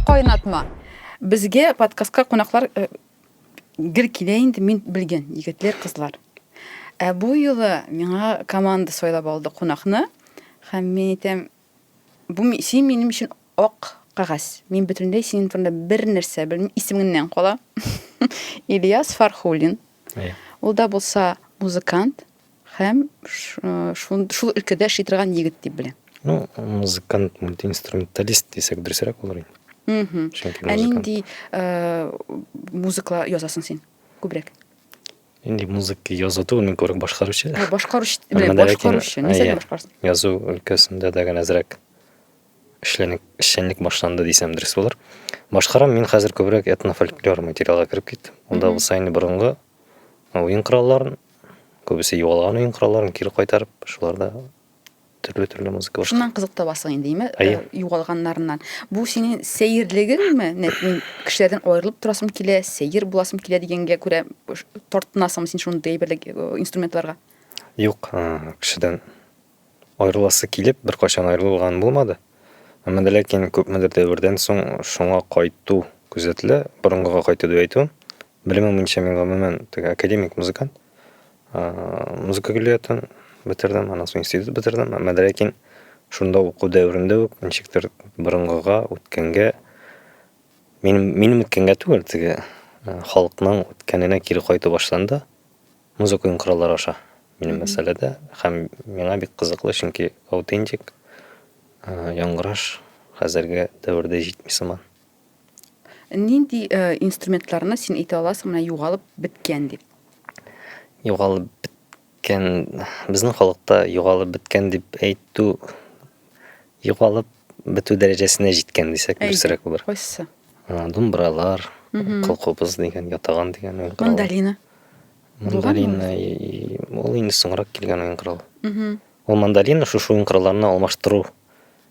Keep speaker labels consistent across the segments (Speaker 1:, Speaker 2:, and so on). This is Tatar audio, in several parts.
Speaker 1: Кайнатма. Безгә подкастка кунаклар э, гел килә инде, мин белгән, егетләр, кызлар. Ә бу юлы миңа команда сайлап алды кунакны, һәм мин әйтәм, бу ми- син минем өчен ак кагаз. Мин бөтенләй синең турында бер нәрсә белмим, исемеңнән кала. Ильяс Фархуллин. Әйе. Ул да булса музыкант, Һәм шул шул өлкәдә эшли торган егет дип беләм. Ну, музыкант, мультиинструменталист дисәк дөресрәк булыр инде. Мм. Ә нинди э, музыка язасың син? Күбрәк. Инде музыка язу түгел, мин күбрәк башкаручы. Башкаручы, белән башкаручы. Нисә башкарсың? Язу өлкәсендә дә генә әзрәк эшленик, эшчәнлек башланды дисәм дөрес булыр. Башкарам мин хәзер күбрәк этнофольклор материалга кереп киттем. Анда булса инде борынгы уен коралларын, Күбесе югалган уен коралларын кире кайтарып, шулар да төрле-төрле музыка башка. Шуннан кызык табасың инде, име? Әйе. Э, югалганнарыннан. Бу синең сәерлегеңме? Нәт мин кешеләрдән аерылып торасым килә, сәер буласым килә дигәнгә күрә тартынасыңмы син шундый әйберлек э, инструментларга? Юк, э, кешедән Аерыласы килеп, беркайчан аерылган булмады. Әмма дә ләкин күпмедер дәвердән соң шуңа кайту күзәтелә. Борынгыга кайту дип әйтүем. Белемем буенча мин гомумән теге академик музыкант. Музыка көллиятен бетердем, аннан соң институт бетердем. Әмма дә ләкин шунда уку дәверендә үк ничектер борынгыга, үткәнгә, минем, минем үткәнгә түгел, теге халыкның үткәненә кире кайту башланды. Музыка уен кораллары аша минем мәсьәләдә һәм миңа бик кызыклы, чөнки аутентик яңгыраш хәзерге дәвердә җитми сыман. Нинди инструментларны син әйтә аласың, менә югалып беткән дип? Югалып беткән, безнең халыкта югалып беткән дип әйтү югалып бетү дәрәҗәсенә җиткән дисәк дөресрәк булыр. Кайсы? Думбралар, кылкубыз дигән, ятаган дигән уен коралы. Мандолина. Мандолина ул инде соңрак килгән уен коралы. Ул мандолина шушы уен коралларына алмаштыру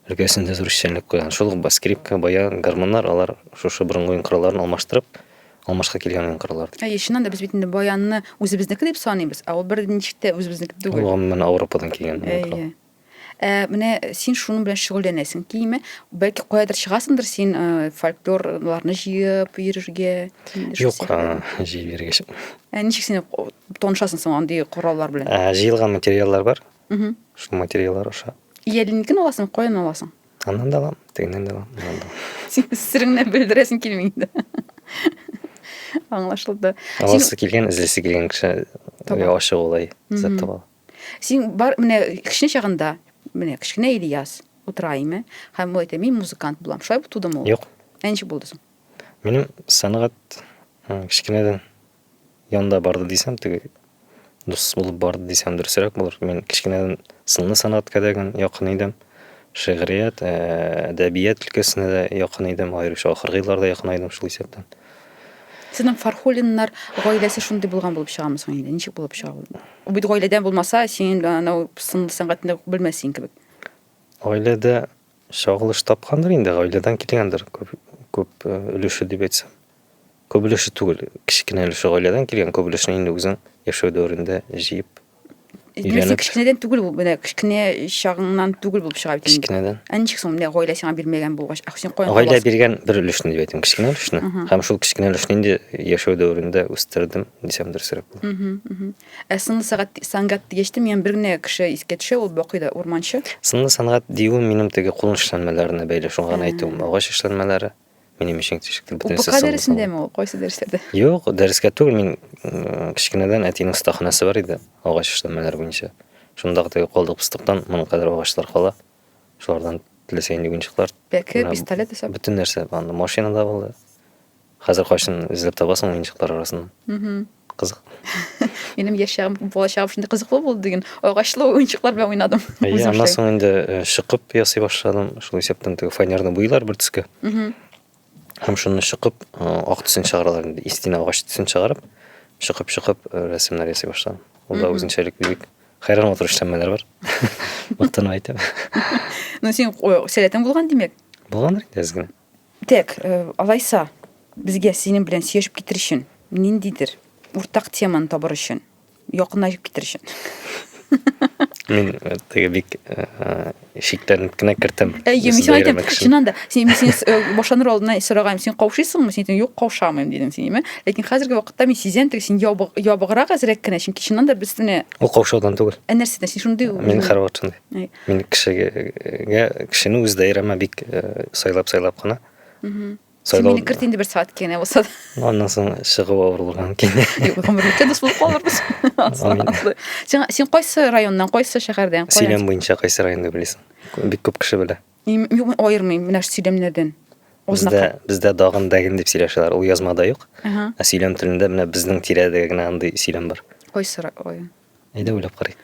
Speaker 1: өлкәсендә зур эшчәнлек куйган. Шул ук скрипка, баян, гармоннар алар шушы борынгы уен коралларын алмаштырып, алмашка килгән уен кораллар. Әйе, чыннан да без бит инде баянны үзебезнеке дип саныйбыз, ә ул бер ничек тә үзебезнеке түгел. Ул гомумән Ауропадан килгән уен корал. Ә менә син шуның белән шөгыльләнәсең килми? Бәлки каядыр чыгасыңдыр син э, фольклорларны җыеп йөрергә? Юк, җыеп йөрергә чык. Ә ничек син танышасың соң андый кораллар белән? Ә, җыелган материаллар бар. Угу. Шул материаллар аша. Иялинекен аласың, каян аласың? Аннан да алам, тегеннән дә алам. Син сиреңне белдерәсең килми инде. Аңлашылды. Аласы килгән, эзлесе килгән кеше ачык улай, зәт таба. Син бар менә кечкенә чагында, менә кечкенә Ильяс утыра име һәм ул әйтә, мин музыкант булам. Шулай булып тудымы ул? Юк. Ә ничек булды соң? Минем сәнгать кечкенәдән янда барды дисәм, теге дус булып барды дисәм дөресрәк булыр. Мин кечкенәдән сынлы сәнгатькә дә якын идем. Шигърият, әдәбият өлкәсенә дә якын идем, аеруча ахыргы елларда якынайдым шул исәптән. Сезнең Фархуллиннар гаиләсе шундый булган булып чыгамы соң инде? Ничек булып чыга ул? Ул бит гаиләдән булмаса, син анау сынлы сәнгатьне белмәссең кебек. Гаиләдә чагылыш тапкандыр инде, гаиләдән килгәндер күп, күп өлеше дип әйтсәм. Күп өлеше түгел, кечкенә өлеше гаиләдән килгән, күп өлешне инде үзең яшәү дәверендә җыеп Нәрсә кечкенәдән түгел бу, менә кечкенә чагыңнан түгел булып чыга бит инде. Кечкенәдән. Ә ничек соң менә гаилә сиңа бирмәгән булгач, ә син каян Гаилә биргән бер өлешне дип әйтәм, кечкенә өлешне. Һәм шул кечкенә өлешне инде яшәү дәверендә үстердем, дисәм дөресрәк булыр. Ә сынлы сәгать сәнгать дигәч тә, миңа бер генә кеше искә төшә, ул Бакый да урманчы. Сынлы сәнгать диюем минем теге кул эшләнмәләренә бәйле, шуңа гына әйтүем, агач эшләнмәләре. минем өчен тишектә бөтенесе сыллы. Упка дәресендәме ул, кайсы дәресләрдә? Юк, дәрескә түгел, мин кечкенәдән әтинең остаханәсе бар иде, агач эшләмәләр буенча. Шунда гына калдык пыстыктан, моның кадәр агачлар кала. Шулардан теләсә нинди уенчыклар. Пәке, пистолет исәп. Бөтен нәрсә, анда машина да булды. Хәзер кайсын эзләп табасың уенчыклар арасында. Кызык. Минем яшь чагым, бала чагым шундый кызыклы булды дигән агачлы уенчыклар белән уйнадым. Әйе, аннан соң инде э, шыкып ясый башладым. Шул исәптән теге фанерный буйлар бер төскә. Һәм шуны шыкып, э, ак төсен чыгаралар инде. Истина агач төсен чыгарып, шыкып-шыкып э, рәсемнәр ясый башладым. Ул да үзенчәлек бик хәйран матур эшләнмәләр бар. Мактанып әйтәм. Ну, син сәләтең булган, димәк. Булгандыр инде әз генә. Тәк, алайса, безгә синең белән сөйләшеп китер өчен, ниндидер уртак теманы табыр өчен, якынлашып китер өчен. Мин э, теге бик э, э, шикләнеп кенә керттем. Әйе, мин сиңа әйтәм, чыннан да, син мин сине башланыр алдына сораган, син каушыйсыңмы? Син әйтәм, юк, каушамыйм дидең син, әйме? Ләкин хәзерге вакытта мин сизәм, теге син ябыграк әзрәк кенә, чөнки чыннан да без менә Ул каушаудан түгел. Ә нәрсәдән? Син шундый Мин хәрватшындай. Мин кешегә кешене үз даирәмә бик сайлап-сайлап кына. Син мине керт инде бер сәгать кенә булса да. Аннан соң чыгып авырлыгын кенә. Юк, гомерлектә дус булып калырбыз. Син син кайсы районнан, кайсы шәһәрдән? Сөйләм буенча кайсы районны беләсең? Бик күп кеше белә. Мин аермыйм менә сөйләмнәрдән. Бездә бездә дагын дәген дип сөйләшәләр. Ул язмада юк. Ә сөйләм телендә менә безнең тирәдә генә андый сөйләм бар. Кайсы район? Әйдә уйлап карыйк.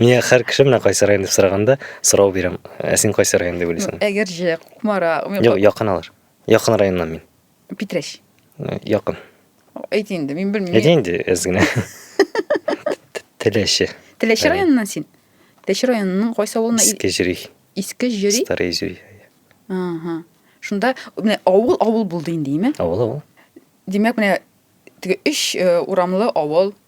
Speaker 1: Миңа һәр кеше менә кайсы район дип сораганда сорау бирәм. Ә син кайсы район дип уйлыйсың? Әгерҗе, Кукмара. Юк, якын алар. Якын районнан мин. Питрәч. Э, якын. Әйт инде, мин белмим. Әйт инде, әз генә. Теләче. Теләче районыннан син? Теләче районының кайсы авылына? Иске җөри. Иске җөри? Старый җөри. Ага. Шунда менә авыл авыл булды инде, име? Авыл авыл. Димәк, менә теге өч э, урамлы авыл,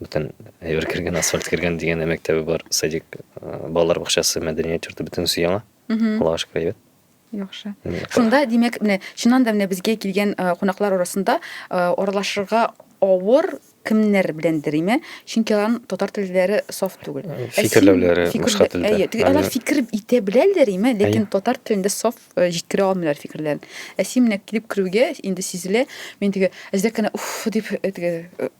Speaker 1: Бүтән әйбер кергән, асфальт кергән дигән мәктәбе бар, садик, э, балалар бакчасы, мәдәният йорты бөтенесе яңа. Аллага шөкер әйбәт. Яхшы. Мм, Шунда, димәк, менә чыннан да менә безгә килгән э, кунаклар арасында э, аралашырга авыр кемнәр беләндер име? Чөнки аларның татар телләре саф түгел. Ә син Фикерләүләре фикерлә- башка телдә. Әйе, теге алар Әйе. фикер итә беләләр име, ләкин Әйе. татар телендә саф э, җиткерә алмыйлар фикерләрен. Ә син менә килеп керүгә инде сизелә, мин теге әзрәк кенә уф дип э, теге э,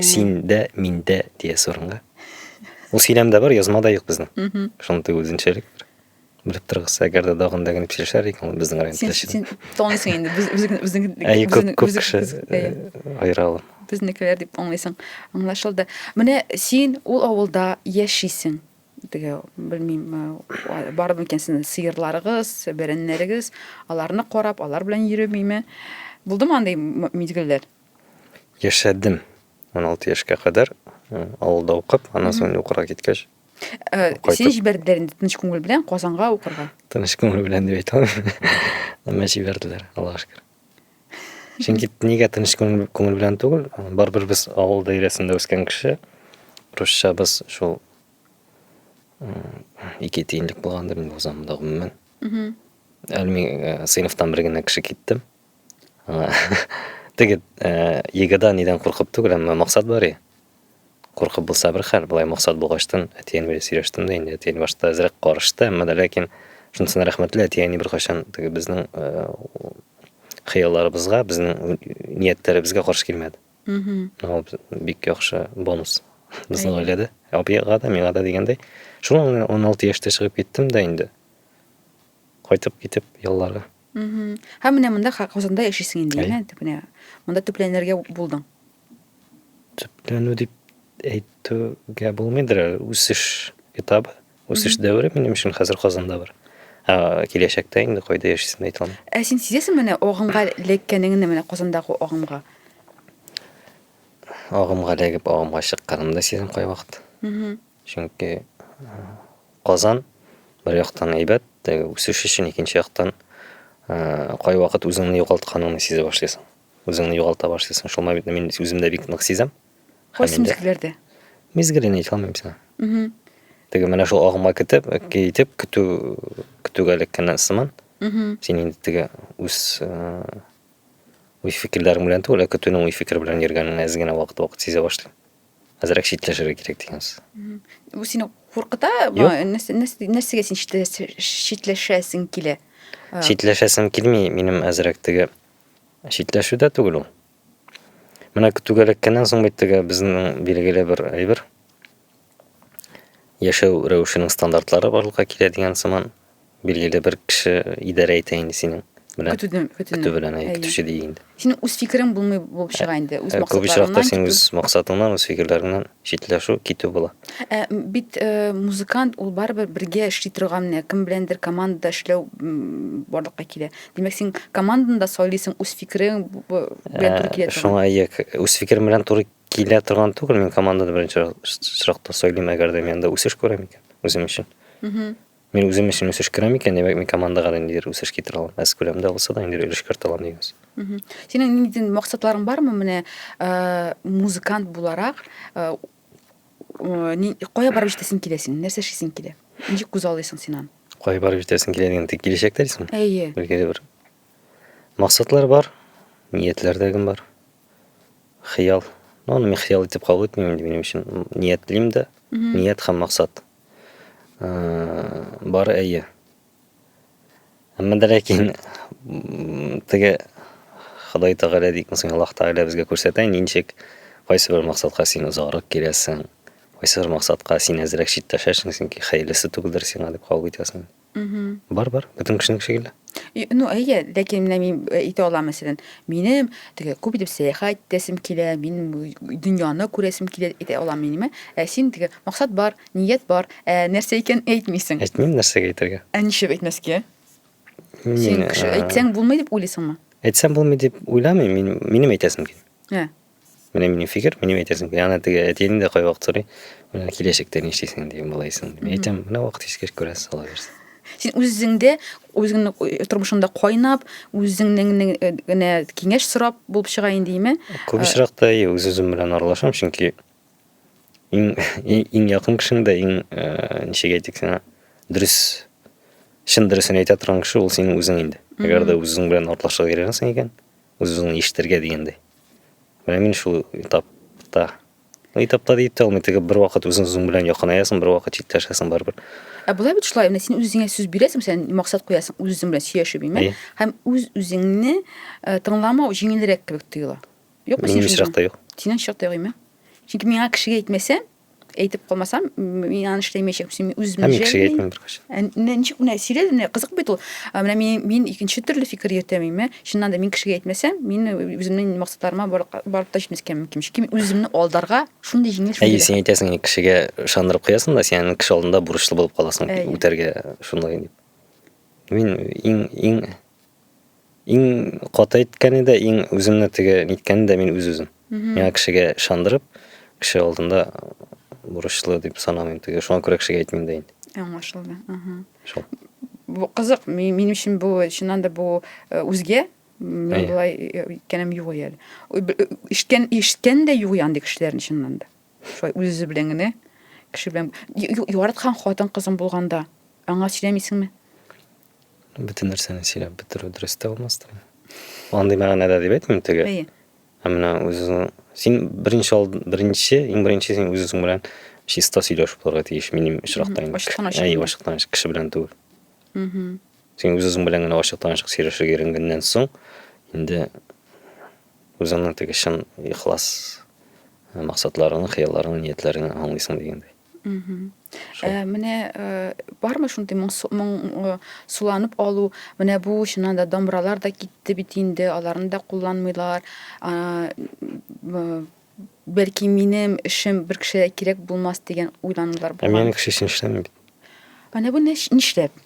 Speaker 1: Син дә, мин дә диясе урынга. Ул сөйләмдә бар, язмада юк безнең. Шундый үзенчәлек бар. Белеп торыгыз, әгәр дә дагын да генә килешәр икән, ул безнең район теләче. Син танысың инде, безнең Әй, күп күп кеше аера ала. Безнекеләр дип аңлыйсың. Аңлашылды. Менә син ул авылда яшисең. Теге, белмим, бар микән сезнең сыерларыгыз, бәрәннәрегез, аларны карап, алар белән йөремиме? Булдымы андый мизгелләр? Яшәдем. 16 яшькә кадәр авылда укып, аннан соң укырга киткәч. Э, сине җибәрделәр инде тыныч күңел белән Казанга укырга. Тыныч күңел белән дип әйтә алмыйм. Әмма җибәрделәр, Аллага шөкер. Чөнки нигә тыныч күңел белән түгел, барыбер без авыл даирәсендә үскән кеше. Русча без шул ике тиенлек булгандыр инде узамында гомумән. Әлми э, сыйныфтан бер генә кеше китте. Теге егыда нидән куркып түгел, әмма максат бар и. Куркып булса бер хәл, болай максат булгачтын, әтиен белән сөйләштем дә инде, әтиен башта әзрәк карышты, әмма дә ләкин шунысына рәхмәтле, әти әни беркайчан теге безнең хыялларыбызга, безнең ниятләребезгә каршы килмәде. Ул бик яхшы бонус безнең гаиләдә. Абыйга да, миңа да дигәндәй. Шуңа 16 яшьтә чыгып киттем дә инде. Кайтып китеп ялларга. Мгм. Һәм менә монда Ха- Казанда яшисең инде, Әйе. яме, дип менә. Монда төпләнергә булдың. төпләнү дип әйтүгә булмыйдыр әле. үсеш этабы үсеш дәвере минем өчен хәзер казанда бар ә киләчәктә инде кайда яшисемне әйтә алмыйм Ә син сизәсең менә агымга эләккәнеңне менә Казандагы агымга? агымга эләгеп агымга чыкканымны да сизәм кайвакыт Мгм. Чөнки Казан бер яктан әйбәт, теге үсеш өчен, икенче яктан кайвакыт үзеңне югалтканыңны сизә башлыйсың. Үзеңне югалта башлыйсың. Шул моментны мин үземдә бик нык сизәм. Кайсы мизгелләрдә? Мизгелен әйтә алмыйм сиңа. Теге менә шул агыма китеп, китеп көтү көтүгә эләккәннән сыман. Син инде теге үз уй фикерләрең белән түгел, ә көтүнең уй фикере белән йөргәнеңне әз генә вакыт-вакыт сизә башлыйм. Әзрәк читләшергә кирәк дигәнсез. Бу сине куркыта? Нәрсәгә син читләшәсең килә? Читләшәсем килми, минем әзрәк теге читләшү дә түгел ул. Менә түгәләккәннән соң бит теге безнең билгеле бер әйбер. Яшәү рәвешенең стандартлары барлыкка килә дигән сыман. Билгеле бер кеше идарә итә инде синең белән. Көтүден, көтүне. Көтү белән, әй, көтүче дия инде. Синең үз фикерең булмый булып чыга инде, үз максатларыңнан. Күп очракта синең үз максатыңнан, үз фикерләреңнән читләшү, китү була. Ә бит музыкант ул барыбер бергә эшли торган, кем беләндер командада эшләү барлыкка килә. Димәк, син команданда сайлыйсың, үз фикерең белән туры килә торган. Шуңа ия, үз фикерем белән туры килә торган түгел, мин команданы беренче очракта сайлыйм, әгәр дә мин анда үсеш күрәм икән, үзем өчен. Мин үзем өчен үсеш керә микән, димәк, мин командага да ниндидер үсеш китерә алам. Аз күләмдә булса да, ниндидер өлеш кертә алам дигәнсез. Мгм. Синең ниндидер максатларың бармы менә э, музыкант буларак? э, э, ни- Кая барып җитәсең килә синең? Нәрсә эшлисең килә? Ничек күзаллыйсың син аны? Кая барып җитәсең килә дигән тик киләчәктә дисең? Әйе. Билгеле бер максатлар бар, ниятләр дә гем бар. Хыял. Ну, аны мин хыял итеп кабул итмим инде минем өчен. Ниятлим дә, Мгм. ният һәм максат. Бары әйе. Әмма дә ләкин теге Ходай Тәгалә дик мисың Аллаһ Тәгалә безгә күрсәтә ничек кайсы бер максатка син озаграк киләсең, кайсы бер максатка син әзрәк читтәшәсең, чөнки хәерлесе түгелдер сиңа дип кабул итәсең. Бар, бар, бөтен кешенең шикелле. Ну, әйе, ләкин менә мин э, әйтә алам, мәсәлән, минем теге күп итеп сәяхәт итәсем килә, мин дөньяны күрәсем килә, әйтә алам минемә. Ә син теге максат бар, ният бар, ә нәрсә икән әйтмисең. Әйтмим, нәрсәгә әйтергә? Ә ничек әйтмәскә? Син кеше әйтсәң булмый дип уйлыйсыңмы? Әйтсәм булмый дип уйламыйм, мин, минем әйтәсем килә. Ә, Менә минем фикер, минем әйтәсем килә. Ана теге әтине дә кайвакыт сорый. Менә киләчәктә ни эшлисең дигән балайсың. Мин әйтәм, менә вакыт искер күрәсез, ала бирсен. Син үзеңдә, үзеңнең э, тормышыңда кайнап, үзеңнең э, генә киңәш сорап булып чыга инде име? Күп э, очракта и үз үзем белән аралашам, чөнки иң иң якын кешең дә иң ничек әйтик сиңа дөрес чын дөресен әйтә торган кеше ул синең үзең инде. Әгәр дә үзең белән аралашырга өйрәнәсең икән, Үз-үзеңне ишетергә дигәндәй. Менә мин шул этапта. Ну, этапта дип тә алмый, теге бер вакыт үзең-үзең белән якынаясың, бер вакыт читләшәсең барыбер. Ә була бит шулай, менә син үз-үзеңә сүз бирәсең, сен максат куясың, үз-үзең белән сөйләшү бимә, һәм үз-үзеңне э, тыңламау җиңелрәк кебек тоела. Юкмы синең? Минем очракта юк. Синең очракта юк име? Чөнки миңа кешегә әйтмәсәм, әйтеп калмасам мин аны эшләмәячәкмен син үземне мин кешегә әйтмәм беркайчан менә ничек менә сирәл менә кызык бит ул менә мин мин икенче төрле фикер йөртәм имә чыннан да мин кешегә әйтмәсәм мин үземнең максатларыма барып та җитмәскә мөмкин чөнки мин үземне алдарга шундый җиңел әйе син әйтәсең кешегә ышандырып куясың да сен кеше алдында бурычлы булып каласың үтәргә шундый дип мин иң иң Иң каты әйткәне дә, иң үземне теге ниткәне дә мин үз-үзем. Миңа кешегә ышандырып, кеше алдында бурычлы дип санамыйм теге. Шуңа күрә кешегә әйтмим дә инде. Аңлашылды. Ага. Шул. Бу кызык, минем өчен бу чыннан да бу э, үзгә. Мин Әйе. болай э, иткәнем юк әле. Ишткән, ишткән дә юк андый кешеләрне чыннан да. Шулай үз-үзе белән генә кеше белән яраткан хатын кызың булганда аңа сөйләмисеңме? Бөтен нәрсәне сөйләп бетерү дөрес тә булмас та. Андый мәгънәдә дип әйтмим теге. Әйе. Ә менә үзең син беренче алд беренче иң беренче син үзең белән чиста сөйләшеп булырга тиеш минем очракта инде. Ачыктан ачык. Әйе, ачыктан ачык кеше белән түгел. Угу. Син үзең белән генә ачыктан ачык сөйләшергә өйрәнгәннән соң инде үзеңнең теге чын ихлас максатларыңны, хыялларыңны, ниятләреңне аңлыйсың дигәндәй. Э, менә э, бармы шундый моң э, суланып алу менә бу чыннан да домбыралар да китте бит инде аларны да кулланмыйлар бәлки минем эшем бер кешегә кирәк булмас дигән уйланулар ә булган ә менің кеше өчен эшләмим бит менә бу нишләп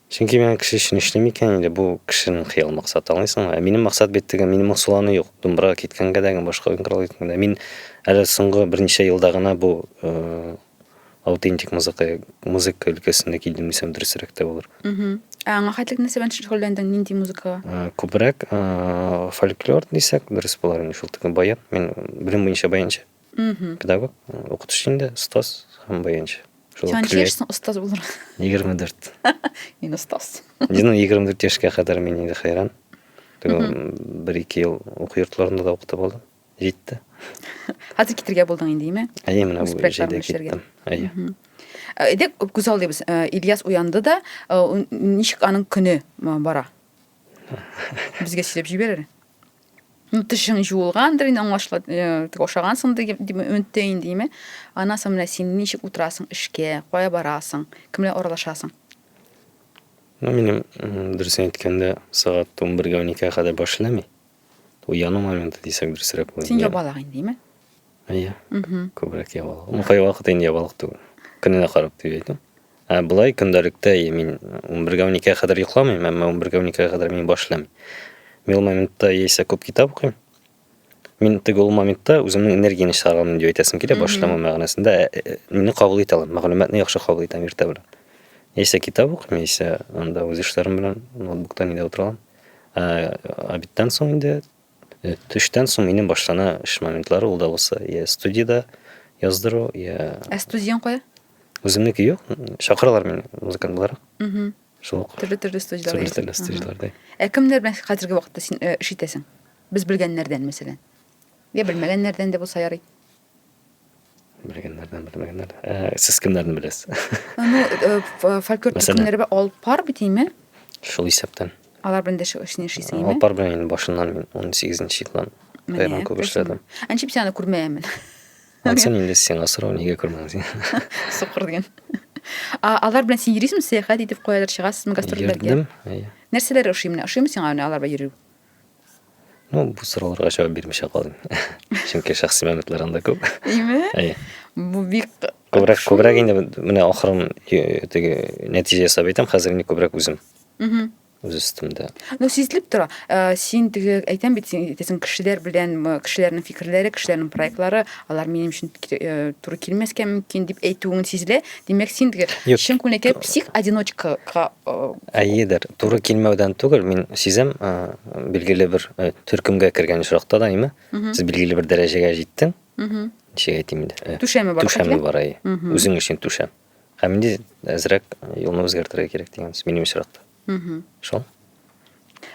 Speaker 1: Чөнки миңа кеше өчен эшлим икән инде, бу кешенең хыял максаты, аңлыйсыңмы? Ә минем максат бит теге, минем аңсуланы юк, думбырага киткәнгә дә, башка уенкоралга киткәнгә дә. Мин әле соңгы берничә елда гына бу аутентик музыка, музыка өлкәсендә килдем дисәм дөресрәк тә булыр. Ә аңа хәтлек нәрсә белән шөгыльләндең, нинди музыкага? Э, күбрәк э, фольклор дисәк, дөрес булар инде шул тиклем баян. Мин белем буенча баянчы. мхм педагог укытучы инде остаз һәм баянчы сен ничә яшьсең остаз булырга егерме дүрт мин остаз ну егерме дүрт яшькә кадәр мин инде хәйран бер ике ел уку йортларында да укытып алдым җитте хәзер китергә булдың инде име әйе менә бу җәйдә киттем әйе әйдә күз алдыйбыз ильяс уянды да ничек аның көне бара безгә сөйләп җибәрер ну тешең жуылгандыр инде аңлашыла ашагансың дип өметте инде димә аннан соң менә син ничек утырасың эшкә кая барасың кемләр аралашасың ну минем дөресен әйткәндә сәгать он бергә он икегә кадәр баш эшләми уяну моменты дисәк дөресрәк була син ябалак инде димә әйе күбрәк ябалак ну кайвакыт инде ябалак түгел көненә карап дип әйтәм Ә болай көндәлектә мин 11-12-гә кадәр йокламыйм, әмма 11-12-гә кадәр мин башлам. Мин ул моментта яисә күп китап укыйм. Мин теге ул моментта үземнең энергияне чыгарган дип әйтәсем килә, башламау мәгънәсендә. Ә, э, мине кабул итә алам, мәгълүматны яхшы кабул итәм иртә белән. Яисә китап укыйм, яисә анда үз эшләрем белән ноутбукта нидә утырам. Ә, обедтан соң инде Төштән соң минем башлана эш моментлары, ул да булса, я студиядә яздыру, я... Ә студияң кая? Үземнеке юк, чакыралар мине музыкант буларак. Угу. Шул ук. Төрле төрле студияләрдә. Төрле төрле студияләрдә. Ә кемнәр белән хәзерге вакытта син э, эш итәсең? Без белгәннәрдән, мәсәлән. Я белмәгәннәрдән дә булса ярый. белгәннәрдән белмәгәннәр ә, сез кемнәрне беләсез ну э, э, фольклор төркемнәре бар алып бар бит име шул исәптән алар белән дә эшне эшлисең алып бар белән инде башыннан мин он сигезенче елдан аерым күп эшләдем әнчеп син аны күрмәгәнмен ансен инде сиңа сорау нигә күрмәдең соқыр деген алар белән син йөрисеңме сәяхәт итеп каядыр чыгасызмы гастрольләргә йөрдем нәрсәләр ошый менә ошыймы сиңа алар белән йөрү Ну, бу сорауларга җавап бирмичә калыйм. Чөнки шәхси мәгълүматлар анда күп. Әйме? Әйе. Бу бик Күбрәк, күбрәк инде менә ахырын теге нәтиҗә ясап әйтәм, хәзер инде күбрәк үзем. Угу. Үз өстемдә. Ну, сизелеп тора. Э, син теге әйтәм бит, син әйтәсең, кешеләр белән, кешеләрнең фикерләре, кешеләрнең проектлары, алар минем өчен э, туры килмәскә мөмкин дип әйтүең сизелә. Димәк, син теге Юк. чын күңелдәге псих одиночкага э, Әйедер, туры килмәүдән түгел, мин сизәм, ә, билгеле бер ә, төркемгә кергән очракта да, әйме, Мгм. сез билгеле бер дәрәҗәгә җиттең, мгм, ничек әйтим инде, ә, түшәме бар. түшәме бар, әйе, Мгм. үзең өчен түшәм. Һәм инде әзрәк юлны үзгәртергә кирәк дигән сүз минем очракта. Шул.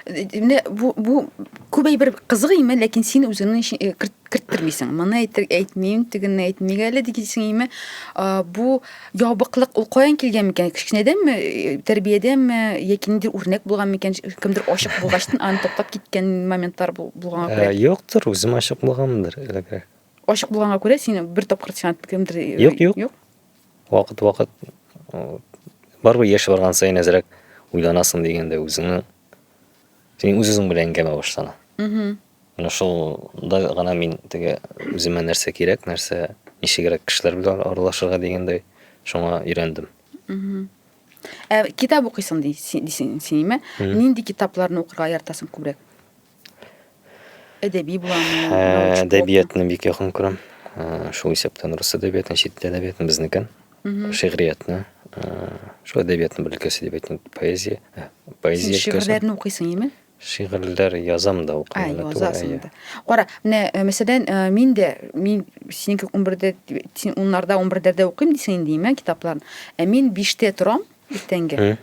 Speaker 1: Менә бу бу күп әйбер кызык име, ләкин син үзеңне э, керттермисең. Моны әйтер әйтмим, тегенне әйтмик әле дигәнсең име? Бу ябыклык ул каян килгән микән? Кечкенәдәнме, э, тәрбиядәме, яки ниндидер үрнәк булган микән? Кемдер ачык булгачтын аны тоткап киткән моментлар булганга күрә. Э, юктыр, үзем ачык булганмындыр элегрәк. Ачык булганга күрә син бер тапкыр сиңа кемдер Юк, юк. Вакыт вакыт бар бу яшь барган саен әзрәк уйланасың дигәндә үзеңне син үзең белән әңгәмә башлана. Угу. Менә шулда гына мин теге үземә нәрсә кирәк, нәрсә ничегрәк кешеләр белән аралашырга дигәндәй шуңа өйрәндем. Угу. Ә китап укыйсың дисең, синеме? Нинди китапларны укырга яратасың күбрәк? Әдәби буламы? Әдәбиятны бик якын күрәм. Шул исәптән рус әдәбиятын, чит әдәбиятын, безнекен, шигъриятны. Шул әдәбиятны бер өлкәсе дип әйтәм, поэзия. Поэзия өлкәсе. Шигырьләрне укыйсың, име? Шигырьләр язам да укыйм. Ә, язасың да. Кара, менә, мәсәлән, мин дә, мин синеке 11-дә, син 10-нарда, 11-дә укыйм дисең инде, име, китапларны. Ә мин 5-тә торам, Иртәнге.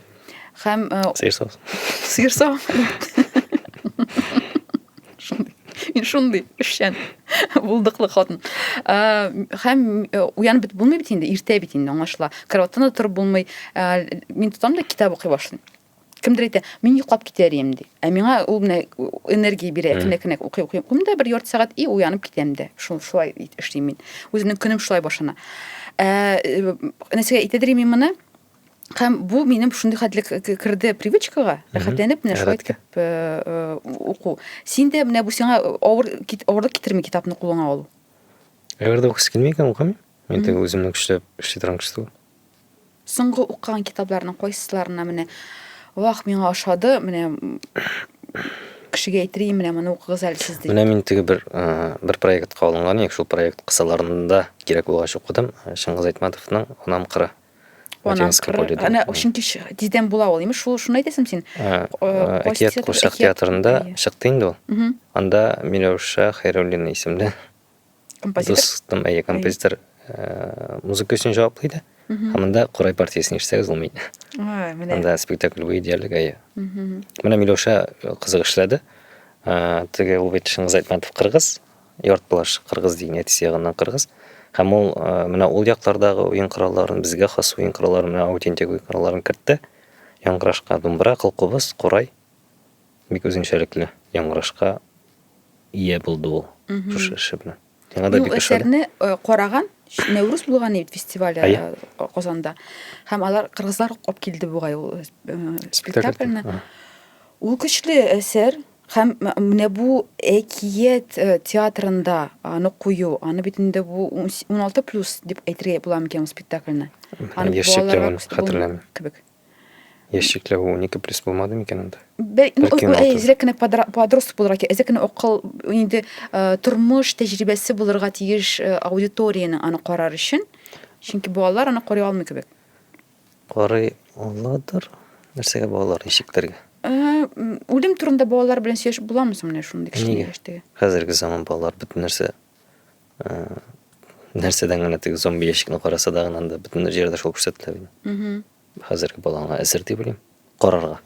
Speaker 1: Һәм сыер савыт. Сыер савыт. Мин шундый эшчән булдыклы хатын. Һәм уянып бит булмый бит инде, иртә бит инде аңлашыла. Кроваттан да торып булмый. Мин тотам да китап укый башлыйм. Кемдер әйтә, мин йоклап китәр идем ди. Ә миңа ул менә энергия бирә. Әкрен әкрен укый укый укыйм да бер ярты сәгать и уянып китәм дә. Шул шулай эшлим мин. Үземнең көнем шулай башлана. Ә э, нәрсәгә әйтәдер мин моны? Һәм бу минем шундый хәтле керде привычкага, рәхәтләнеп менә шулай итеп э, э, уку. Син дә менә бу сиңа авыр авырлык китерми китапны кулыңа алу. Әгәр дә укысы килми икән, укымыйм. Мин теге үземне көчләп эшли торам кеше түгел. Соңгы укыган китапларның кайсыларына менә вах миңа ошады, менә кешегә әйтерим, менә моны укыгыз әле сез дип. Менә мин теге бер бер проектка алынган идек, шул проект кысаларында кирәк булгач укыдым. Шыңгыз Айтматовның Унам кыры. Унам кыры. Әнә чөнки тиздән була ул, имеш, шул шуны әйтәсең син. Әкият курчак театрында чыкты инде ул. Анда Миләүшә Хәйруллина исемле композитор дус там әйе композитор э, музыка өчен җаваплы иде һәм анда корай партиясен ишетсәгез ул мин менә анда спектакль буе диярлек әйе менә миләүшә э, кызык эшләде э, теге ул бит шыңгыз айтматов кыргыз яртбылаш кыргыз дигән әтисе ягыннан кыргыз һәм ул менә ул яклардагы уен коралларын безгә хас уен коралларын менә аутентик уен коралларын кертте яңгырашка думбра кылкубыз корай Бик үзенчәлекле яңгырашка ия булды ул шушы эше белән. Яңа да бик әсәрне э, караган Нәүрүз булган бит фестивале э, Казанда. Һәм алар кыргызлар алып килде бугай ул э, спектакльне. Ул көчле әсәр һәм менә бу әкият театрында аны кую, аны бит инде бу 16 плюс дип әйтергә була микән спектакльне? Аны балаларга хәтерләмим. Кебек. Яшьлекләр ул унике плюс булмады микән анда? Бәлки ну, Бәлки уналты. әзрәк кенә подра- подросток булырга кирәк. Әзрәк кенә акыл, инде э, тормыш тәҗрибәсе булырга тиеш э, аудиториянең аны карар өчен. Чөнки балалар аны карый алмый кебек. Карый аладыр. Нәрсәгә балалар ишекләргә? Э, м, үлем турында балалар белән сөйләшеп буламы соң менә шундый кечкенә Нигә? яшьтәге? Хәзерге заман балалар бөтен нәрсә нәрсәдән генә теге зомби ящикны караса да гына бөтен җирдә шул күрсәтелә бит хәзерге балаңа әзер дип уйлыйм карарга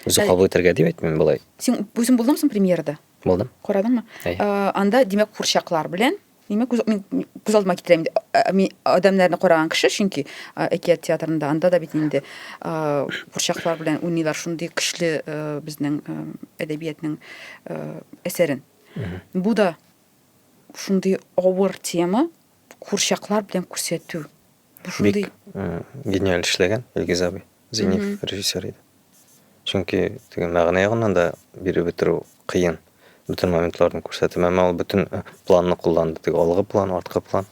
Speaker 1: үзе кабул итәргә дип әйтмим болай син үзең булдың соң премьерада булдым карадыңмы анда димәк курчаклар белән димәк мин күз алдыма китерәм мин адәмнәрне караган кеше чөнки әкият театрында анда да бит инде курчаклар белән уйныйлар шундый көчле безнең әдәбиятның әсәрен бу да шундый авыр тема курчаклар белән күрсәтү. Бу шундый Бик э, гениаль эшләгән Илгиз абый. Зинев mm -hmm. режиссер иде. Чөнки теге мәгънә ягыннан да биреп бетерү кыен. Бөтен моментларны күрсәтеп, әмма ул бөтен э, планны кулланды. Теге алгы план, арткы план.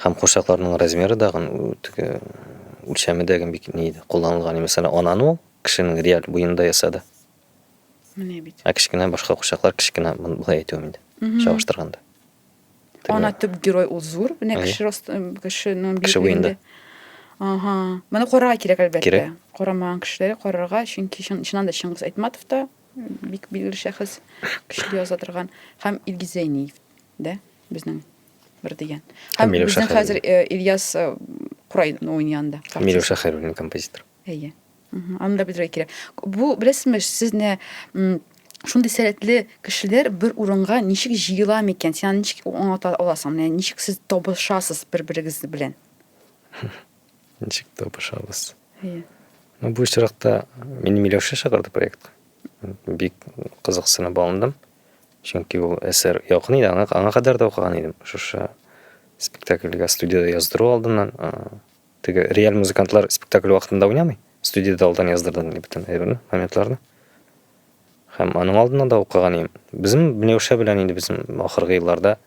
Speaker 1: Һәм курчакларның размеры да теге үлчәме дә бик ни иде, кулланылган. Мәсәлән, ананы ул кешенең реаль буенда ясады. Менә бит. Ә кечкенә башка курчаклар кечкенә болай әйтүем инде. Чагыштырганда. Ана төп герой ул зур, менә кеше рост, кешенең биеклегендә. Ага. Моны карарга кирәк әлбәттә. Кирәк. Карамаган кешеләр карарга, чөнки чыннан да Чыңгыз Айтматов та бик билгеле шәхес, көчле яза торган һәм Илгиз Зәйниев дә безнең бер дигән. Һәм безнең хәзер Ильяс Курай уйнаганда. Милюша Хәйруллин композитор. Әйе. Аны да белергә кирәк. Бу беләсезме, сезне шундый сәләтле кешеләр бер урынга ничек җыела микән? Син аны ничек аңлата аласың? Менә ничек сез табышасыз бер-берегез белән? Ничек табышабыз? Әйе. Ну, бу очракта мине Миләүшә чакырды проектка. Бик кызыксынып алындым. Чөнки ул әсәр якын иде, аңа, аңа кадәр дә укыган идем. Шушы спектакльгә студияда яздыру алдыннан Теге реаль музыкантлар спектакль вакытында уйнамый. Студиядә алдан яздырдым мин бөтен әйберне, моментларны. Һәм аның алдына да укыган идем. Безнең Миләүшә белән инде безнең ахыргы елларда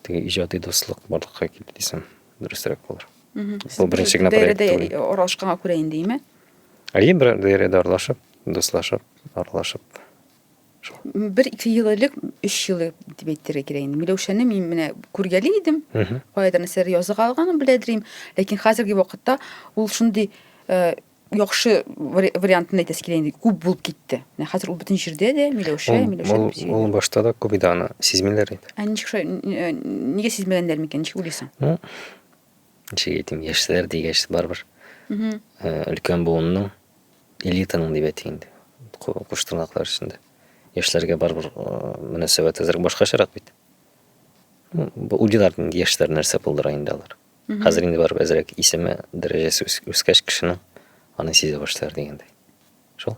Speaker 1: теге иҗади дуслык барлыкка килде дисәм, дөресрәк булыр. Бу беренче генә проект түгел. Аралашканга күрә инде, име? Әйе, бер даирәдә аралашып, дуслашып, аралашып. бер ике ел элек өч ел дип әйтергә кирәк инде миләүшәне мин менә күргәли идем каядыр нәрсәләр языга алганын беләдер идем ләкин хәзерге вакытта ул шундый э, яхшы вариантын әйтәсе килә инде күп булып китте менә хәзер ул бөтен җирдә дә миләүшә миләүшә ул башта да күп иде аны сизмиләр иде ә ничек шулай нигә сизмәгәннәр микән ничек уйлыйсың ничек әйтим яшьләр дигәч барыбер өлкән буынның элитаның дип әйтик инде куш тырнаклар эчендә яшьләргә барыбер мөнәсәбәт әзрәк башкачарак бит уйлыйлар инде яшьләр нәрсә булдыра инде алар хәзер инде барыбер әзрәк исеме дәрәҗәсе үскәч кешенең аны сизә башлар дигәндәй шул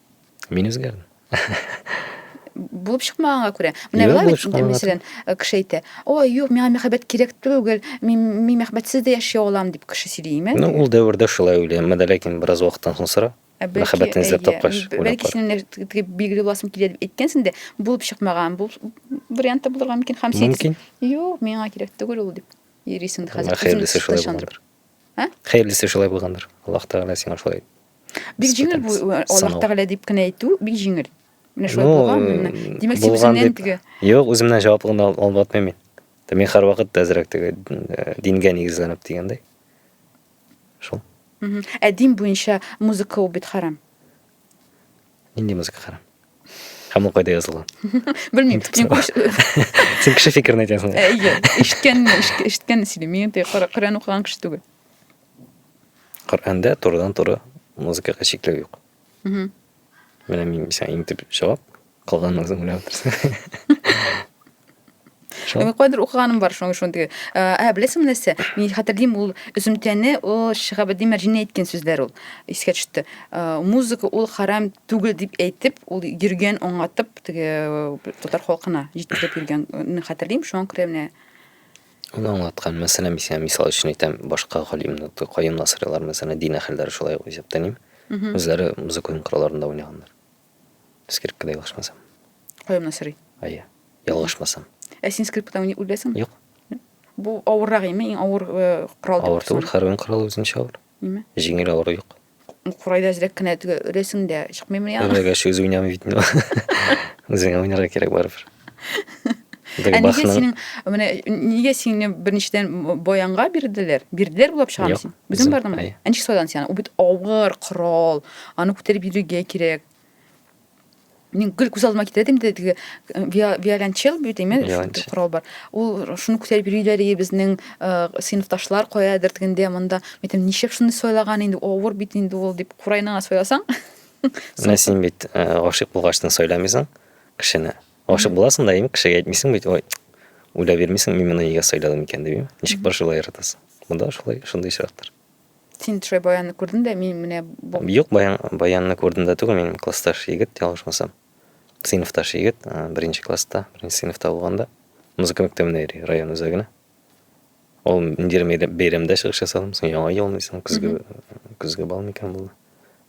Speaker 1: Мин үзгәрдем. булып чыкмаганга күрә. Менә була бит, мәсәлән, э, кеше әйтә, "Ой, юк, миңа мәхәббәт кирәк түгел, мин мин мәхәббәтсез дә яши алам", дип кеше сөйли, имә. Ну, ул дәвердә шулай уйлыйм, әмма ләкин бераз вакыттан соң сора. Ә мәхәббәтне эзләп тапкач, бәлки синең теге билгеле буласың килә дип әйткәнсең дә, булып чыкмаган, бу варианты булырга мөмкин һәм син. Мөмкин. Юк, миңа кирәк түгел ул дип. Ирисең хәзер. Хәерлесе шулай булгандыр. Ә? Хәерлесе шулай булгандыр. Аллаһ Тәгалә сиңа шулай. Бик җиңел бу э, Аллаһ Тәгалә дип кенә әйтү, бик җиңел. Менә шулай ну, булган, менә. Димәк, син үзеңнән теге. Юк, үземнән җаваплыгын алып атмыйм мин. Мин һәрвакыт та әзрәк теге э, дингә нигезләнеп дигәндәй. Шул. Ә дин буенча музыка ул бит харам. Нинди музыка хәрам? Һәм ул кайда язылган? Белмим. Син кеше фикерен әйтәсең. Әйе, ишеткән, ишеткән сөйлим. Мин инде Коръән укыган кеше түгел. Коръәндә турыдан туры музыкага чикләү юк. Менә мин мисән иң төп җавап, калганын үзең белән Шо. Мен кайдыр укыганым бар шуның шундый. Ә беләсең нәрсә? Мин хәтерлим ул өземтәне ул Шихабетдин Мәрҗинә әйткән сүзләр ул. Искә төште. Музыка ул харам түгел дип әйтеп, ул йөргән аңлатып теге татар халкына җиткереп йөргән. Мин хәтерлим шуңа күрә менә Ул аңлаткан, мәсәлән, мисә, мисал өчен әйтәм, башка галимнәр, каен насыйрлар, мәсәлән, дин әһелләре шулай ук исәптәним. Үзләре музыка уен коралларында уйнаганнар. Скрипкада ялгышмасам. Каюмна сорый. Әйе. Ялгышмасам. Ә син скрипкада уйный беләсең? Юк. Бу авыррак име? Иң авыр э, корал дип Авыр түгел, һәр уен коралы үзенчә авыр. Име? Җиңел авыру юк. Курайда әзрәк кенә теге өрәсең дә чыкмыймы яна? Үрәгә шүз уйнамый бит инде. Үзеңә уйнарга кирәк барыбер. Ә нигә синең менә нигә сине беренчедән баянга бирделәр? Бирделәр булып чыгам син. Үзең бардыңмы? Ә ничек сайладың син аны? Ул бит авыр корал. Аны күтәреп йөрергә кирәк. Мин гел күз алдыма китерә идем, теге виолончел бит име, корал бар. Ул шуны күтәреп йөриләр и безнең сыйныфташлар каядыр тегендә монда. Әйтәм, ничек шуны сайлаган инде, авыр бит инде ул дип, курайныңа сайласаң. Менә син бит гашыйк булгачтын сайламыйсың. кешене. Гашык буласың да, ими кешегә әйтмисең бит, ой, уйлап бирмисең, мин моны нигә сайладым икән дип, ими. Ничек бар шулай яратасың. Монда шулай, шундый очрактар. Син шулай баянны күрдең дә, мин менә бу. Юк, баян, баянны күрдем дә түгел, мин классташ егет, ялгышмасам. Сыйныфташ егет, беренче класста, беренче сыйныфта булганда, музыка мәктәбенә йөри, район үзәгенә. Ул Индир бәйрәмдә чыгыш ясадым, соң яңа ел мисың, көзге, көзге бал микән булды.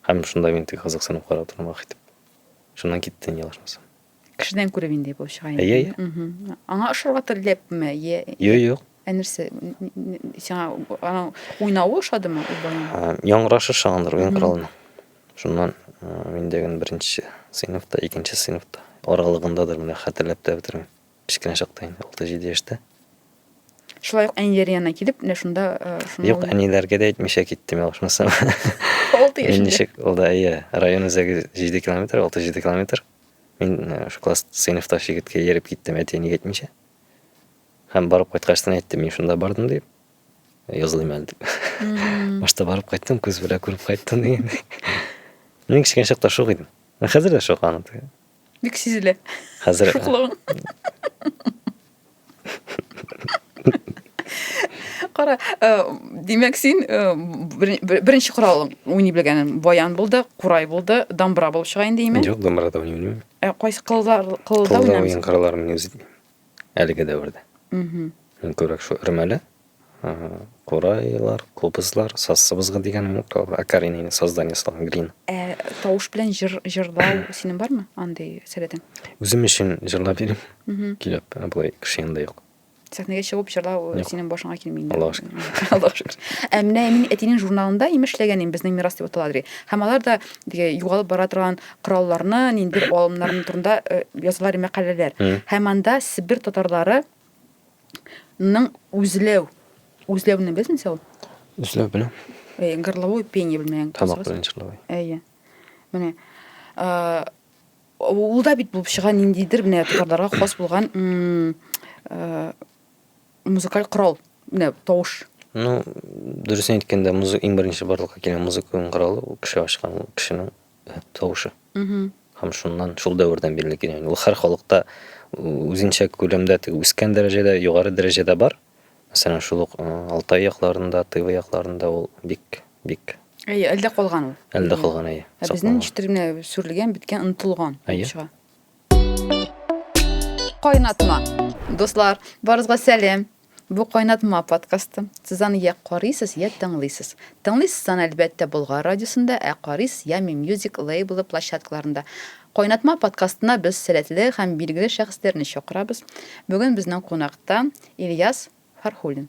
Speaker 1: Һәм шунда мин тик кызыксынып карап торам, ах итеп. Шуннан китте инде ялгышмасам. Кешедән күреп инде булып чыга инде. Әйе, әйе. Аңа ошарга теләпме? Йә. Юк, юк. Ә нәрсә? Сиңа аның уйнавы ошадымы? Яңгырашы шагандыр уен коралының. Шуннан мин дәген беренче сыйныфта, икенче сыйныфта аралыгындадыр, менә хәтерләп тә бетермим. Кечкенә чакта инде, 6-7 яшьтә. Шулай ук әниләр янына килеп, менә шунда э, шуны Юк, әниләргә дә әйтмичә киттем я шунысы. Алты Мин яшендә. ничек ул да иә, район үзәге 7 километр, 6-7 километр. Мин э, шу класс сыйныфта шигеткә йөреп киттем әти-әнигә әйтмичә. Һәм барып кайткачтан әйттем, мин шунда бардым дип. Язылыйм әле дип. Башта барып кайттым, күз белән күреп кайттым дигән. Мин кечкенә чакта шук идем. Хәзер дә шук аны. Бик сизелә. Хәзер шуклыгың. Кара, э, димәк син э, беренче коралың уйный белгәнен баян булды, курай булды, дамбра булып чыга инде име? Юк, дамбра да уйный белмим. Ә кайсы кылда кылда уйнамыйсың? Кылда уен коралларын мин үзе әлеге дәвердә. Мин күрәк шул өрмәле курайлар, кубызлар, саз сыбызгы дигән акаринный создание салган грин. Ә тавыш белән җыр җырлау синең бармы андый сәләтең? Үзем өчен җырлап йөрим. Килеп, ә болай кеше янында юк. Сәхнәгә чыгып җырлау синең башыңа килми инде. Аллага шөкер. Аллага шөкер. Ә менә мин әтинең журналында имеш эшләгән идем, безнең мирас дип атала ди. Һәм алар да югалып бара торган коралларны, нинди алымнарны турында язылар мәкаләләр. Һәм анда Себер татарлары ның үзләү. Үзләүне белсен сәл. Үзләү белән. Әйе, горловой пение белмәгән. Тамак белән чырлавы. Әйе. Менә э ул да бит булып чыга ниндидер менә татарларга хас булган э музыкаль корал, менә тавыш. Ну, дөресен әйткәндә, музыка иң беренче барлыкка килгән музыка коралы, кеше ачкан, кешенең тавышы. Һәм шуннан, шул дәвердән бирле килә. Ул һәр халыкта үзенчә күләмдә теге үскән дәрәҗәдә, югары дәрәҗәдә бар. Мәсәлән, шул ук Алтай якларында, Тыва якларында ул бик бик Әйе, әлдә калган ул. Әлдә калган, әйе. Ә безнең җитәрлек сүрелгән, беткән, онытылган чыга. Кайнатма. Дуслар, барызга сәлем. Бу кайнатма подкасты. Сез аны я карыйсыз, я тыңлыйсыз. Тыңлыйсыз аны әлбәттә Болгар радиосында, ә карыйсыз Ями Music лейблы площадкаларында. Кайнатма подкастына без сәләтле һәм билгеле шәхесләрне чакырабыз. Бүген безнең кунакта Ильяс Фархуллин.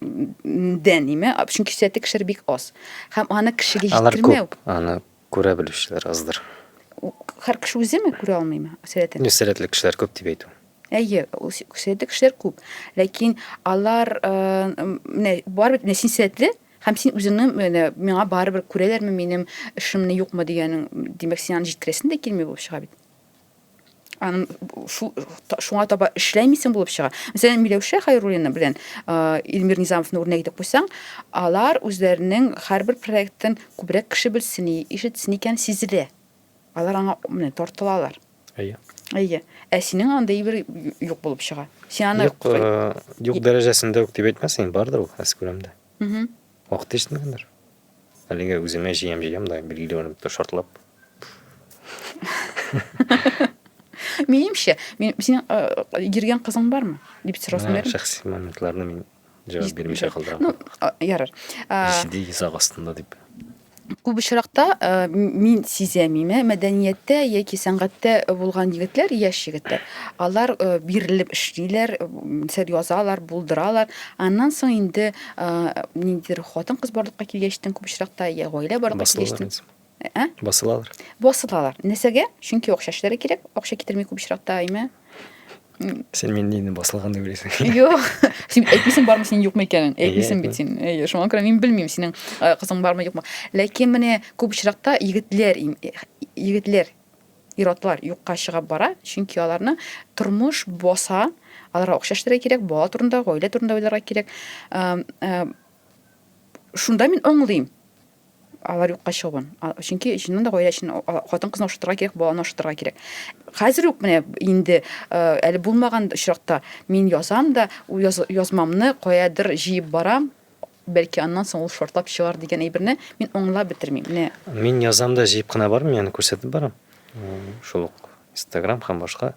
Speaker 1: дә ниме, чөнки сәте кешеләр бик аз. Һәм аны кешегә җиткермәү. Аны күрә белүчеләр аздыр. Һәр кеше үземе күрә алмыймы сәләтен? Юк, сәләтле кешеләр күп дип әйтү. Әйе, сәләтле кешеләр күп. Ләкин алар менә барыбер менә син сәләтле һәм син үзеңнең менә миңа барыбер күрәләрме минем эшемне юкмы дигәнең, димәк, син аны җиткерәсең дә килми булып чыга бит. шуңа таба эшләмисең булып чыга. Мәсәлән, Миләүшә Хайруллина белән Илмир Низамовны үрнәк итеп куйсаң, алар үзләренең һәрбер проектын күбрәк кеше белсен, ишетсен икән сизелә. Алар аңа менә тартылалар. Әйе. Әйе. Ә синең андый бер юк булып чыга. Син аны юк, юк дәрәҗәсендә үк дип әйтмәсең, бардыр ул, әскүрәмдә. Угу. Вакыты җитмәгәндер. Әлегә үземә җыям җыям да билгеле бер ниндидер шартлап. Минемчә, мин синең э, йөргән кызың бармы? дип сорасын Менә бирәм. Шәхси моментларны мин җавап бирмичә калдырам. Ну, а, ярар. А, Җитди йозак астында дип. Күп очракта мин сизәм име, мәдәнияттә яки сәнгатьтә булган егетләр, яшь егетләр, алар бирелеп эшлиләр, сәр язалар, булдыралар. Аннан соң инде ниндидер хатын-кыз барлыкка килгәчтен күп очракта я гаилә барлыкка килгәчтен ә? Басылалар. Басылалар. Нәрсәгә? Чөнки акча эшләре кирәк. Акча китерми күп очракта име? Сен мин дини басылган дип уйлыйсың. Юк. Син әйтмисең бармы синең юкмы икәнен? Әйтмисең бит син. Әйе, шуңа күрә мин белмим синең э, кызың бармы юкмы. Ләкин менә күп очракта егетләр э, егетләр ир-атлар юкка чыгып бара, чөнки аларны тормыш баса, аларга акча эшләргә кирәк, бала турында, гаилә турында уйларга кирәк. Э, шунда мин аңлыйм. алар юкка чыгуын чөнки чыннан да гаилә өчен хатын кызны ашатырга кирәк баланы ашатырга кирәк хәзер үк менә инде әле булмаган очракта мин язам да яз, язмамны каядыр җыеп барам бәлки аннан соң ул шартлап чыгар дигән әйберне мин аңлап бетермим менә мин язам да җыеп кына бармыйм яны күрсәтеп барам шул ук инстаграм һәм башка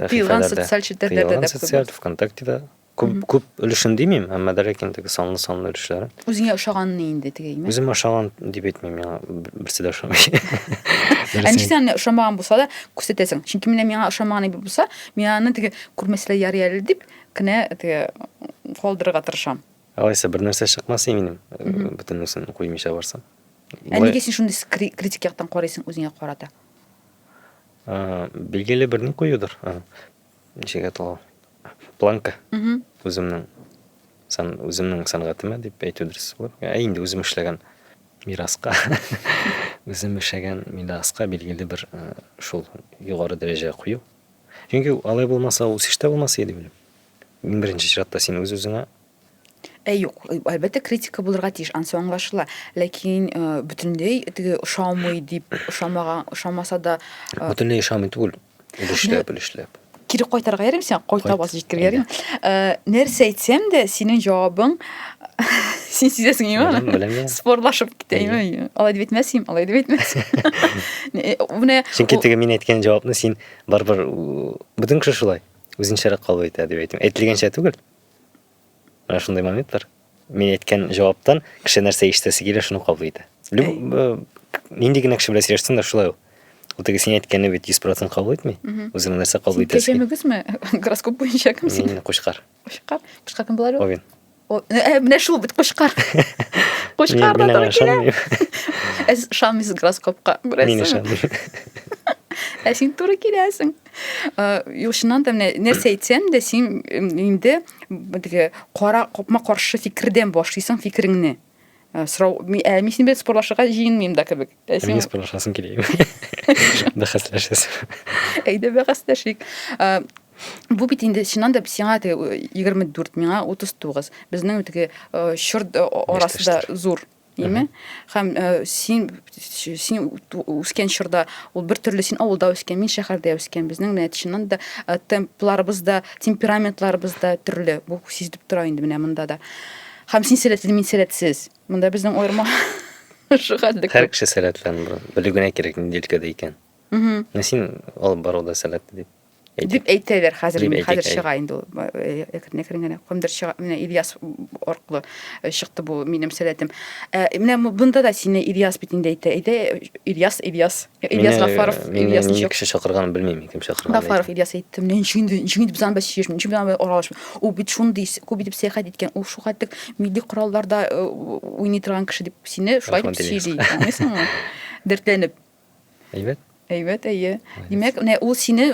Speaker 1: тыелган социаль челтәрләрдә социаль вконтактеда Күп, mm -hmm. күп өлешен димим, әмма дә ләкин теге санлы санлы өлешләре. Үзеңә ошаганны инде теге име? Үземә ошаган дип әйтмим, миңа берсе дә ошамый. Ә ничек сиңа ошамаган булса да күрсәтәсең? Чөнки менә миңа ошамаган дип булса, мин аны теге күрмәсләр ярый әле дип кенә теге калдырырга тырышам. Алайса бер нәрсә чыкмас минем, бөтенесен куймыйча барсам. Ә нигә син шундый критик яктан карыйсың үзеңә карата? Билгеле бер ни куюдыр. ничек ул планка үземнең сан үземнең сәнгатемә дип әйтү дөрес булыр ә инде үзем эшләгән мираска үзем эшләгән мираска билгеле бер э, шул югары дәрәҗә кую чөнки алай булмаса үсеш тә булмас иде минем иң беренче чиратта син үз үзеңә Ә юк, әлбәттә критика булырга тиеш, ансы аңлашыла. Ләкин э, бөтенләй теге ошамый дип, ошамаган, ошамаса да э, Бөтенләй ошамый түгел. Өлешләп, өлешләп. кире кайтарга ярыйм сиңа, кайта бас җиткергә ярыйм. Э, Нәрсә әйтсәм дә, синең җавабың син сизәсең Беләм, имәме? беләм я. Спорлашып китә имәме? Алай дип әйтмәсем, алай дип әйтмәсем. Э, Менә Чөнки ул- теге мин әйткән җавапны син барыбер у, бөтен кеше шулай үзенчәрәк кабул итә дип әйтәм. Әйтелгәнчә түгел. Менә шундый моментлар. Мин әйткән җаваптан кеше нәрсә ишетәсе килә, шуны кабул итә. Э, нинди генә кеше белән сөйләшсәң дә шулай ул. Ул теге син әйткәнне бит 100% кабул итми. Үзеңә нәрсә кабул итәсе. Кеше мөгезме? Гороскоп буенча кем син? Мин кушкар. Кушкар. Кушкар кем булар ул? Овен. Э, менә шул бит кушкар. Кушкар да туры килә. Ә ишанмыйсыз гороскопка, күрәсең. Мин ишанмыйм. Ә син туры киләсең. Юк, чыннан да менә нәрсә әйтсәм дә, син инде беге кара капма каршы фикердән башлыйсың фикереңне. Сорау, ә мин синең белән спорлашырга җыенмыйм да кебек. Ә син спорлашасың килә. Бәхәсләшәсең. Әйдә бәхәсләшик. Бу бит инде чыннан да сиңа теге 24, миңа 39. Безнең теге чорт арасы да зур. Әйме? Хәм э, син син үскән чорда ул бер төрле син авылда үскән, мин шәһәрдә үскән. Безнең менә чыннан да э, темпларыбыз да, темпераментларыбыз да төрле. Бу сизелеп тора инде менә монда да. Хәм син сәләтле, мин сәләтсез. Монда безнең аерма шугатлык. Һәр кеше сәләтле, белү генә кирәк нинди өлкәдә икән. Мм. Син алып баруда сәләтле дип. Дип әйтәләр хәзер, мин хәзер чыга инде ул. Әкрен-әкрен генә кемдер чыга. Менә Ильяс аркылы чыкты бу минем сәләтем. Менә монда да сине Ильяс бит инде әйтә. Әйтә Ильяс, Ильяс. Ильяс Гафаров, Ильяс ничек? Кеше чакырганын белмим, кем чакырган. Гафаров Ильяс әйтте. Менә ничек инде, ничек инде без аны бәсешмеш, ничек без аны аралашмыш. Ул бит шундый күп итеп сәяхәт иткән, ул шуга тек милли коралларда уйный торган кеше дип сине шулай дип сөйли. Аңлыйсыңмы? Дәртләнеп. Әйбәт? Әйбәт, әйе. Димәк, менә ул сине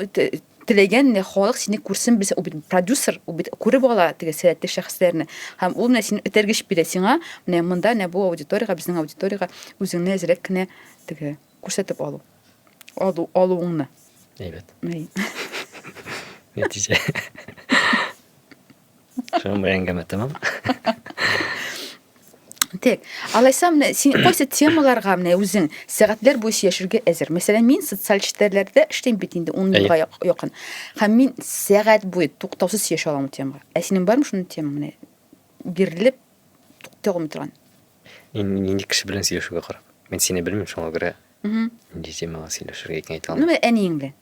Speaker 1: теләгән менә халык сине күрсен без бит продюсер ул бит күреп ала теге сәләтле шәхесләрне һәм ул менә сине этәргеч бирә сиңа менә монда менә бу аудиториягә безнең аудиториягә үзеңне әзрәк кенә теге күрсәтеп алу алу алуыңны әйбәт нәтиҗә Шуның белән әңгәмә тәмам. Тик, алайса менә син кайсы темаларга менә үзең сәгатьләр буе сөйләшергә әзер. Мәсәлән, мин социаль челтәрләрдә эшлим бит инде 10 елга якын. Һәм мин сәгать буе туктаусыз сөйләшә алам темага. Ә синең бармы шундый тема менә? Бирелеп туктый алмый торган. Мин нинди кеше белән сөйләшергә карап. Мин сине белмим, шуңа күрә нинди темага сөйләшергә икән әйтә алмыйм. Ну, әниең белән.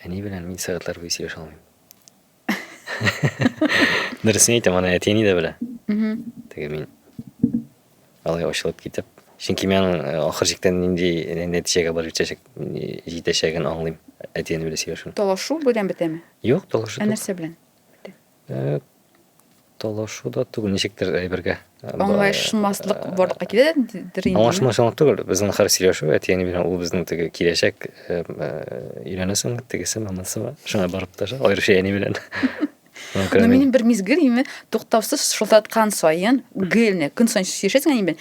Speaker 1: Әни белән мин сәгатьләр буе сөйләшә алмыйм. дөресен әйтәм аны әти әни дә белә теге мин алай ачылып китеп чөнки мен аның э, ахыр чиктә нинди нәтиҗәгә барып җитәчәген аңлыйм әти әни белән сөйләшү талашу белән бетәме юк талашу ә нәрсә белән э, Талашу да түгел, ничектер әйбергә. Аңлашмаслык барлыкка килә дидер инде. Аңлашмаслык түгел, безнең хәр сөйләшү, әтиәни белән ул безнең теге киләчәк өйләнәсең, тегесе, монысы, шуңа барып та аеруча әни белән. Но минем бер мизгел именно туктаусыз шылтыраткан саен, гелне, көн саен сөйләшәсең әни белән,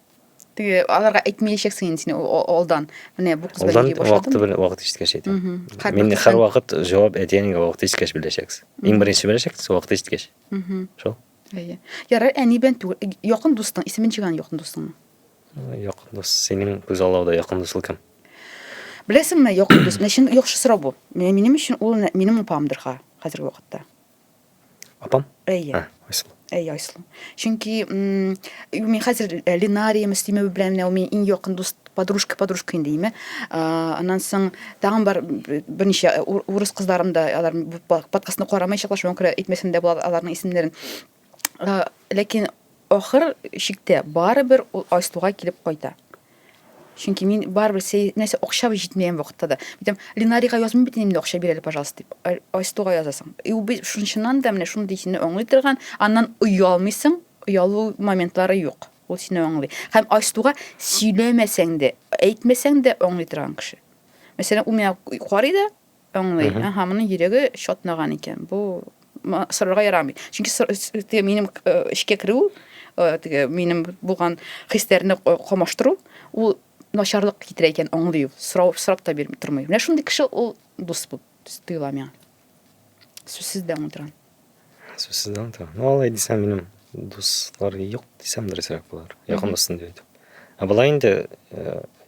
Speaker 1: теге аларга әйтмәячәксең инде син алдан менә бу кыз белән йөри вакыты белән вакыт җиткәч әйтәм мин һәр вакыт җавап әтиәнигә вакыт җиткәч беләчәксез иң беренче беләчәксез вакыт җиткәч шул әйе ярар әни белән түгел якын дустың исемен җыйган якын дустыңның якын дус синең күз аллауда якын дусың кем беләсеңме якын дус менә чын яхшы сорау бу менә минем өчен ул минем апамдыр хәзерге вакытта Апам? Әйе. Ә, Айсылу. Әйе, Айсылу. Чөнки м, мин хәзер э, Ленария Мөслимова белән менә ул мин иң якын дус подружка, подружка инде име. А, Аннан соң тагын бар б- берничә э, ур- урыс кызларым да алар бу по- подкастны карамаячаклар, шуңа күрә әйтмәсәм дә була аларның исемнәрен. А, Ләкин ахыр чиктә барыбер ул Айсылуга килеп кайта. Чөнки мин барыбер сәй, нәрсә акча җитмәгән вакытта да. Әйтәм, Линарига язмый бит инде акча бир әле, пожалуйста, дип. Ай- Айстуга язасың. И ул бит шунчыннан да менә шундый сине аңлый торган, аннан оялмыйсың, оялу моментлары юк. Ул сине аңлый. Һәм Айстуга сөйләмәсәң дә, әйтмәсәң дә аңлый торган кеше. Мәсәлән, ул миңа карый да, Аңлый. Аһа, моның йөрәге чатнаган икән. Бу сорарга ярамый. Чөнки теге минем эшкә керү, теге минем булган хисләрне камаштыру, ул начарлык китерә икән, аңлый ул. Сорау сорап та бирми тормый. Менә шундый кеше ул дус булып тоела миңа. Сүзсез дә аңлатырган. Сүзсез дә аңлатырган. Ну, алай дисәм, минем дуслар юк дисәм дөресрәк булыр. Якын дустым дип әйтеп. Ә болай инде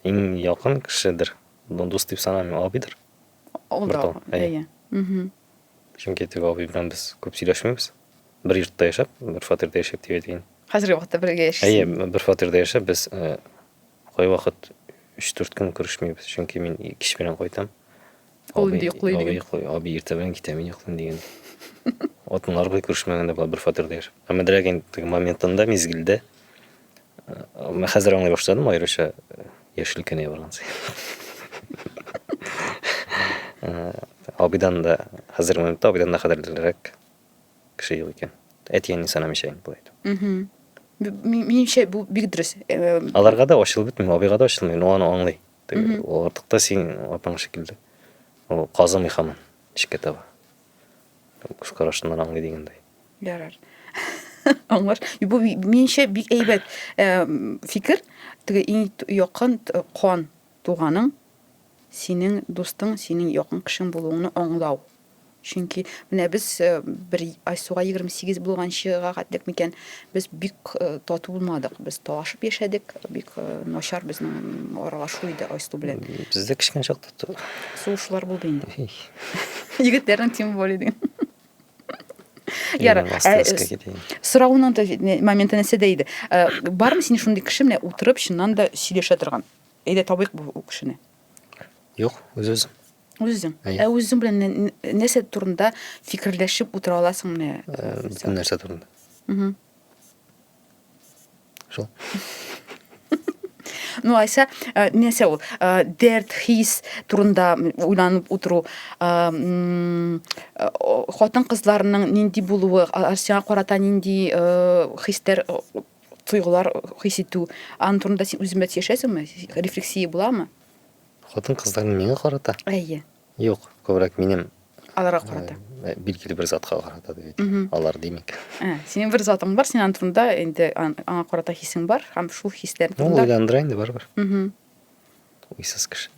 Speaker 1: иң якын кешедер. Бу дус дип санамыйм, абыйдыр. Ул да, әйе. Чөнки теге абый белән без күп сөйләшмибез. Бер йортта яшәп, бер фатирда яшәп дип әйтәйен. Хәзерге вакытта бергә яшисез. Әйе, бер фатирда яшәп без э, кайвакыт 3-4 көн күрешмибез, чөнки мин кич белән кайтам. Ул инде йоклый диген. Абый йоклый, абый иртә белән китә, мин йоклыйм диген. Атынлар бер күрешмәгәндә була бер фатирда яшәп. Әмма дирәк инде моментында, мизгелдә Мен хәзер аңлый башладым, аеруча яшел кенә барган саен. Абыйдан да хәзер монда абыйдан да кадерлерәк кеше юк икән. Әти әни санамыйча инде булай. Минемчә бу бик дөрес. Аларга да ачылып бетми, абыйга да ачылмый, но аны аңлый. Ул артыкта син апаң шикелле. Ул казымый хамын, эчкә таба. Күз карашыннан аңлый дигәндәй. Ярар. Аңлаш. Бу минчә бик әйбәт фикер. Теге иң якын кан туганың синең дустың, синең якын кешең булуыңны аңлау. Чөнки менә без э, бер Айсуга 28 булганчыга гадлек микән, без бик э, тату булмадык. Без талашып яшәдек, бик э, начар безнең аралашу иде Айсу белән. Бездә кечкенә чакта Сугышлар булды инде. Егетләрнең тем более дигән. Яра, ә, соравының да моменты нәрсә дә иде. Э, бармы синең шундый кеше менә утырып чыннан да сөйләшә торган? Әйдә табыйк бу кешене. Юк, үз-үз. Үзең. Ә үзең белән нәрсә турында фикерләшеп утыра аласың менә? Э, нәрсә турында? Угу. Шул. Ну, айса, э, нәрсә ул? Э, дәрт, хис турында уйланып утыру. Э, хатын кызларының нинди булуы, сиңа карата нинди хистер тойгылар хис итү. Аны турында син үзең яшәсеңме? Рефлексия буламы? Хатын кызларның миңа карата? Әйе. Юк, күбрәк минем аларга карата. Э, билгеле бер затка карата дип әйтик. Алар димик. Ә, синең бер затың бар, синең турында инде аңа карата хисең бар һәм шул хисләр ну, турында. Ул уйландыра инде барыбер. Угу. Уйсыз кеше.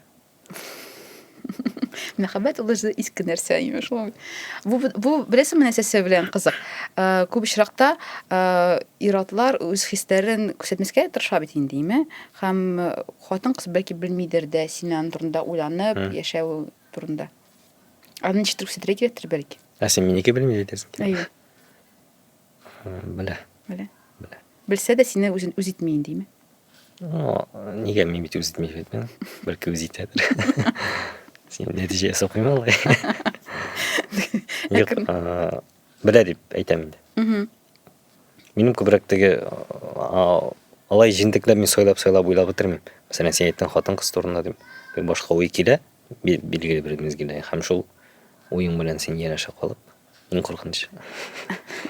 Speaker 1: Мәхәббәт ул үзе иске нәрсә, имеш шул. Бу бу беләсеңме нәрсәсе белән кызык? Э, күп очракта э, иратлар үз хисләрен күрсәтмәскә тырыша бит инде, име? Һәм Хатын-кыз, бәлки, белмидер дә син аның турында уйланып яшәү турында. Аны ничектер күрсәтергә кирәктер, бәлки. Ә син минеке белми әйтерсең килә. Әйе. Белә. Белә. Белә. Белсә дә сине үзен үз итми индиме? Нигә мин бит үз итми бит мин. Бәлки үз итәдер. Син нәтиҗә ясап куйма алай. Юк, белә дип әйтәм инде. Минем күбрәк теге алай җентекләп мин сайлап сайлап уйлап бетермим. Мәсәлән, син әйттең хатын-кыз турында дип. Бер башка уй килә, билгеле бер мизгелдә һәм шул уең белән син янәшә калып, иң куркынычы.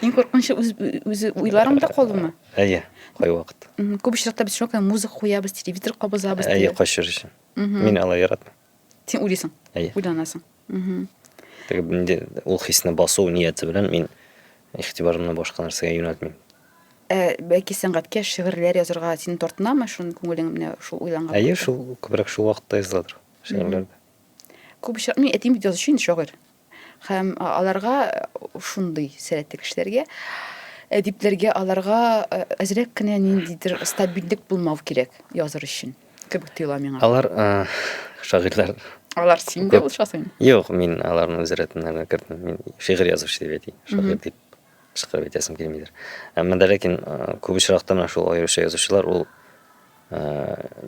Speaker 1: Иң куркынычы үз үз уйларыңда калуымы? Әйе, кай вакыт. Күп очракта без шуңа күрә музыка куябыз, телевизор кабызабыз. Әйе, качыр өчен. Мин алай яратмыйм. Син уйлыйсың? Әйе. Уйланасың. Угу. Теге инде ул хисне басу нияте белән мин игътибарымны башка нәрсәгә юнәлтмим. Ә бәлки сәнгатькә шигырьләр язырга сине тартынамы шуны күңелең менә шул уйланган? Әйе, шул күбрәк шул вакытта языладыр шигырьләр. Күп очрак, мин әтием бит язучы инде шагыйрь. Һәм аларга шундый сәләтле кешеләргә әдипләргә аларга әзрәк кенә ниндидер стабильлек булмау кирәк языр өчен кебек тоела миңа. Алар шагыйрьләр Алар син дә булышасың. Юк, мин аларны үз рәтеннәренә кертмим. Мин шигырь язучы дип әйтим. Шагыйрь дип чыгарып әйтәсем килмидер. Әмма дә ләкин күп очракта менә шул аеруча язучылар ул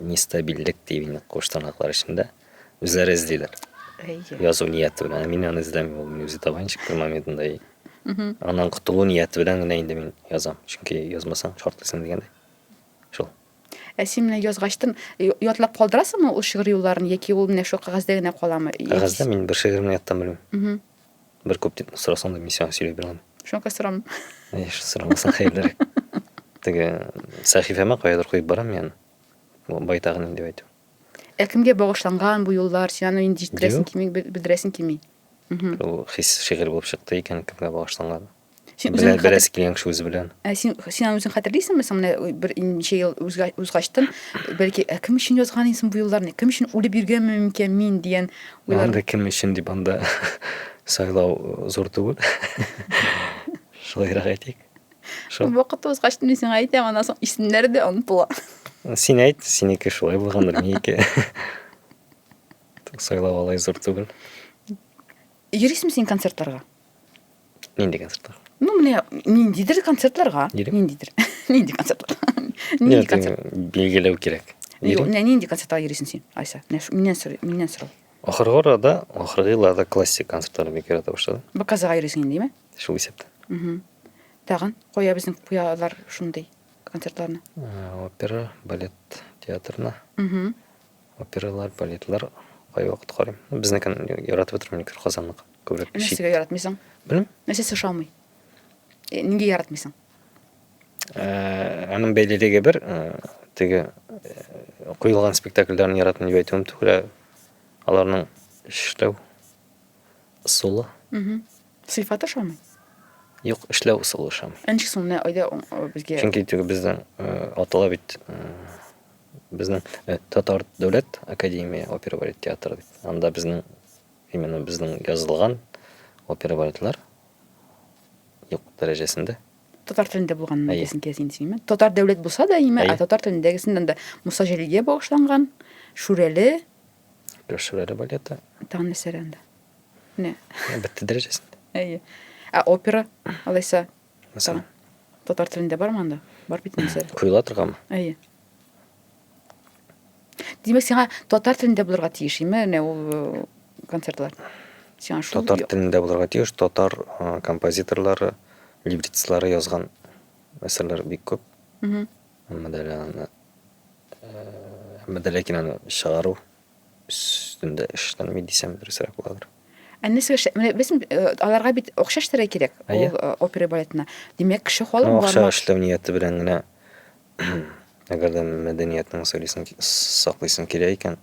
Speaker 1: нестабильлек дип инде куштанлыклар эчендә. Ә Үзләре эзлиләр. Әйе. Язу нияте белән. Мин аны эзләмим, ул мин үзе табайын чиктер моментында. И... Аннан котылу нияте белән генә инде мин язам. Чөнки язмасаң, шартлыйсың дигәндәй. Шул. Ә син менә язгачтын, ятлап калдырасыңмы ул шигырь юлларын, яки ул менә шул кәгазьдә генә каламы? Кәгазьдә мин бер шигыремне яттан белмим. Бер күп дип сорасаң да мин сиңа сөйләп бирәм. Шуңа сорам. Әй, сорамасаң хәерлерәк. Теге сәхифәмә каядыр куеп барам мин. Байтагын инде әйтү. Ә кемгә багышланган бу юллар? Син аны инде җиткерәсең кими, белдерәсең кими. Ул хис шигырь булып чыкты икән, кемгә багышланган. Син үзең белән беләс килгән кеше үзе белән. Ә син син аны үзең хәтерлисеңме? Соң менә бер ничә ел узгачтын, бәлки, ә кем өчен язган инсен бу юлларны? Кем өчен үлеп йөргәнме микән мин дигән уйлар. Анда кем өчен дип анда сайлау зур түгел. Шулайрак әйтик. Шо. Вакыт узгач мин сиңа әйтәм, аннан соң исемнәр дә онытыла. Син әйт, синеке шулай булгандыр, минеке. Сайлау алай зур түгел. Йөрисең син концертларга? Нинди концертлар? Ну, менә ниндидер концертларга. Йөрим. Ниндидер. Нинди концертлар? Нинди концерт? Билгеләү кирәк. Юк, менә нинди концертларга йөрисең син, Айса? Миннән сорый, миннән сорау. Ахыргы арада, ахыргы елларда классик концертларны бик ярата башладым. Баказыга йөрисең инде, димме? Шул исәптә. Угу. Тагын кая безнең куялар шундый концертларны? Ә, Опера, балет театрына. Угу. Опералар, балетлар кайвакыт карыйм. Ну, Безнекен яратып утырам никер Казанныкы. Күбрәк чит. Нәрсәгә яратмыйсың? Белмим. Нәрсәсе ошамый? Э, Нигә яратмыйсың? Ә, Аның бәйлелеге бер, ә, теге ә, куелган спектакльләрне яратмыйм дип әйтүем түгел, ә аларның эшләү Ысулы? Угу. Сыйфат ошамый? Юк, эшләү ысулы ошамый. Ә ничек соң менә айда безгә? Чөнки теге безнең атала бит безнең татар дәүләт академия опера балет театры дип. Анда безнең именно безнең язылган опера балетлар юк дәрәҗәсендә татар телендә булганын әйтәсең килә синең исемең татар дәүләт булса да име ә татар телендәгесен анда муса җәлилгә багышланган шүрәле Пешвеле балеты. Таны сәрәнда. Не. Бетте дәрәҗәсендә. Әйе. Ә опера алайса? Мәсәлән. Татар телендә бар манда? Бар бит инде. Куела торганмы? Әйе. Димәк, сиңа татар телендә булырга тиеш, име, не ул э, концертлар? Сиңа шул Татар телендә булырга тиеш, татар э, композиторлары, либреттистлары язган әсәрләр бик күп. Әмма дә аны әмма дә ләкин аны чыгару өстендә эшләнми дисәм дөресрәк буладыр. Ә нәрсә эшләп? Менә без аларга бит акча эшләргә кирәк. Ул опера балетына. Димәк, кеше халык бар. Акча эшләү нияте белән генә әгәр дә мәдәниятның сәлисен саклыйсың кирәк икән.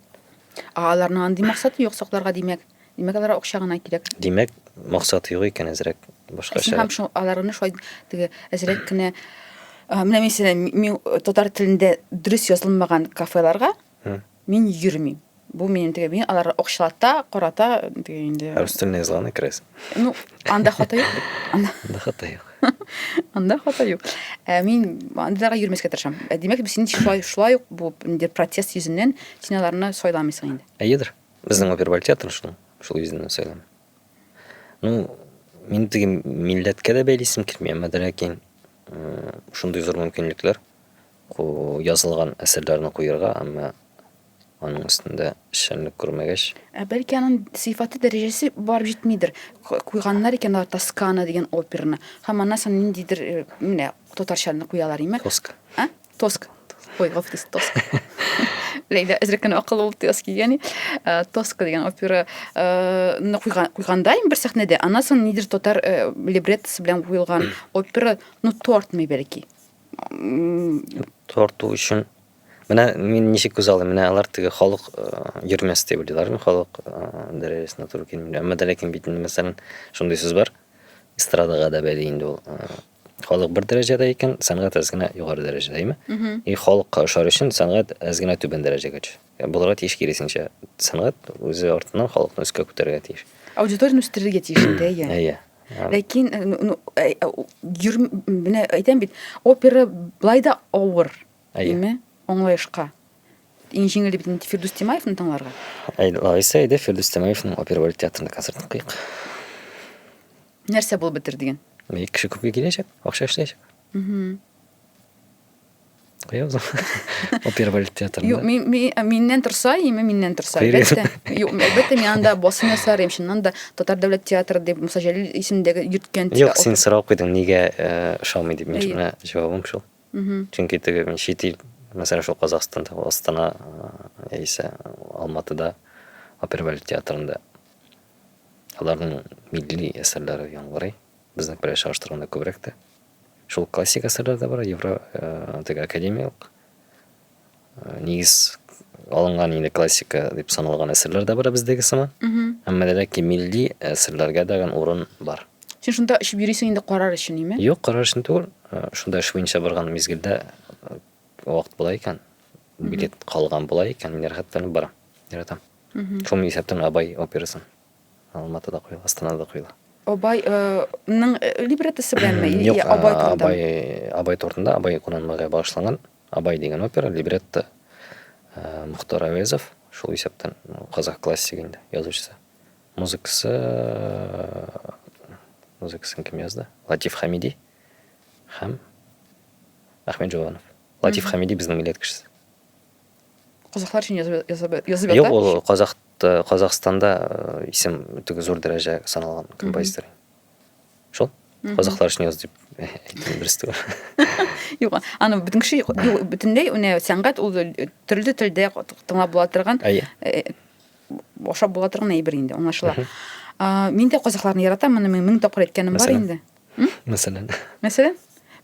Speaker 1: Аларның андый максаты юк сакларга димәк. Димәк, алар акча гына кирәк. Димәк, максат юк икән әзрәк башка Син һәм шул аларны шулай теге әзрәк кенә менә мин сине мин татар телендә дөрес язылмаган кафеларга мин йөрмим. Бу минем теге мин алар акчалата, карата теге инде. Рус телендә язылган икрес. Ну, анда хата юк. Анда хата юк. Анда хата юк. Ә мин андыйларга йөрмәскә тырышам. Димәк, син шулай шулай ук бу инде протест йөзеннән син аларны сайламыйсың инде. Әйедер. Безнең опер баль театры шул, шул йөзеннән сөйләм. Ну, мин теге милләткә дә бәйлисем килми, әмма дә ләкин шундый зур мөмкинлекләр язылган әсәрләрне куярга, әмма аның өстендә эшчәнлек күрмәгәч. Ә бәлки аның сыйфаты дәрәҗәсе барып җитмидер. Куйганнар икән алар Тоскана дигән операны. Һәм аннан соң ниндидер менә татарчаны куялар име? Тоска. А? Тоск. Ой, гафтис, тоск. Ләйлә әзрәккән акылы булып тыяс кигәни. Э, тоск дигән опера э, ны куйгандайым бер сәхнәдә. Аннан соң нидер татар э, либреттосы белән куелган опера, ну, тортмый бәлки. Торту өчен Менә мин ничек күз алдым, менә алар теге халык э, йөрмәс дип уйлыйлармы, халык э, дәрәҗәсенә туры килмиләр. Әмма дә ләкин бит инде мәсәлән шундый сүз бар. Эстрадага да бәли инде ул э, Халык бер дәрәҗәдә икән, сәнгать әз генә югары дәрәҗәдә, әйме? И халыкка ошар өчен сәнгать әз генә түбән дәрәҗәгә төш. Булырга тиеш киресенчә. Сәнгать үзе артыннан халыкны өскә күтәрергә тиеш. Аудиторияне үстерергә тиеш инде, әйе. Әйе. Ләкин э, ну, э, э, йөр, менә әйтәм бит, опера былай да авыр. Әйе. Аңлаешка. Иң җиңел бит инде Фирдүс Тимаевны тыңларга. Әйе, Лариса, әйдә Фирдүс Тимаевның опера балет театрында концертын куйыйк. Нәрсә булып бетер диген? Милек кеше күпкә киләчәк, акча эшләячәк. Куябыз. Опера балет театрында. Юк, мин, мин, миннән торса, име миннән торса. Әлбәттә, юк, әлбәттә, мин анда басым ясар, им шуннан да Татар дәүләт театры дип Муса Җәлил исемендәге йөрткән. Юк, син сорау куйдың, нигә ошамый дип. Мин шуны җавабым шул. Чөнки теге мин чит ил, мәсәлән, шул Казахстанда, Астана яисә Алматыда опера балет театрында Аларның милли әсәрләре яңгырый, безнеке белән чагыштырганда күбрәк тә. Шул классик әсәрләр дә бар, евро, теге академиялык, нигез алынган инде классика дип саналган әсәрләр дә бар бездәге сыман. Әмма дә ләкин милли әсәрләргә дә урын бар. Син шунда очып йөрисең инде карар өчен, име? Юк, карар өчен түгел. Шунда эш буенча барган мизгелдә вакыт була икән, билет калган була икән, мин рәхәтләнеп барам, яратам. Шул исәптән Абай операсын. Алматыда куела, Астанада куела. Абай ның либреттосы беләнме? Юк, Абай турында. Абай, Абай турында, Абай кунанмага багышланган Абай дигән опера, либретто Мөхтар Әвезов, шул исәптән казах классигы инде, язучысы. Музыкасы музыкасын кем язды? Латиф Хамиди һәм Әхмәт Җованов. Латиф Хамиди безнең милләт кешесе. Казахлар өчен язып язып язып Юк, ята. ул Казах Казахстанда э, исем теге зур дәрәҗә саналган композитор. Шул. Казахлар өчен яз дип әйтте берсе түгел. Юк, аны бөтен кеше юк, юк, бөтенләй менә сәнгать ул э, төрле телдә тыңлап була торган, Әйе. э, ашап була торган әйбер инде, аңлашыла. А, Мин дә казахларны яратам, моны мин мең тапкыр әйткәнем бар Мәсәлән? инде. Мәсәлән. Мәсәлән,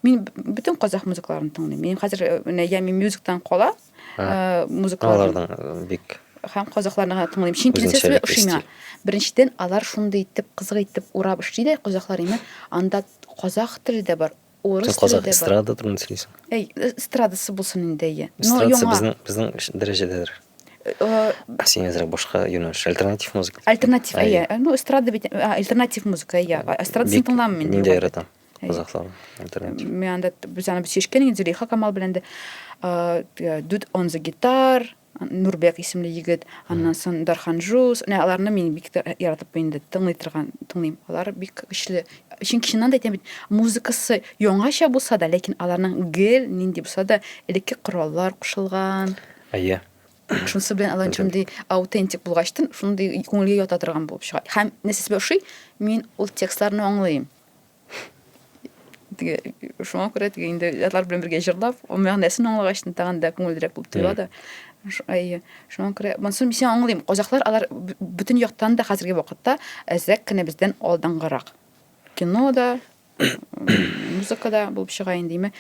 Speaker 1: мин бөтен казах музыкаларын тыңлыйм. Мин хәзер э, менә Ями Мюзиктан кала э, музыкалар. Аларның бик һәм казахларны гына тыңлыйм. Чөнки нәрсә шулай ошый миңа. Беренчедән, алар шундый итеп кызык итеп урап эшли дә казахлар имә. Анда казах теле дә бар, урыс теле дә бар. Казах эстрада турында сөйлисең. Әй, эстрадасы булсын инде, әйе. Эстрадасы безнең безнең дәрәҗәдәдер. Э, а сен әзерәк башка юнәлеш альтернатив музыка альтернатив иә ну эстрада бит альтернатив музыка иә эстрадасын тыңламын мин ниндәй яратам казахлар альтернатив мен анда без аны шешкен инде зөлейха камал белән дә э, дуд он за гитар нурбек исемле егет аннан соң дархан жус менә аларны мин бик яратып инде тыңлый торган тыңлыйм алар бик көчле чөнки чыннан да әйтәм бит музыкасы яңача булса да ләкин аларның гел нинди булса да элекке кораллар кушылган Әйе. Шунысы белән алар шундый аутентик булгач, шундый күңелгә ята торган булып чыга. Һәм нәрсә сезгә ошый? Мин ул текстларны аңлыйм. Теге шуңа күрә теге инде алар белән бергә җырлап, ул мәгънәсен аңлагач, тагын да күңеллерәк булып тоела да. Әйе. Шуңа күрә монсын мин аңлыйм. Казахлар алар бөтен яктан да хәзерге вакытта әзрәк кенә бездән алдынгырак. Кино да, музыкада булып чыга индиме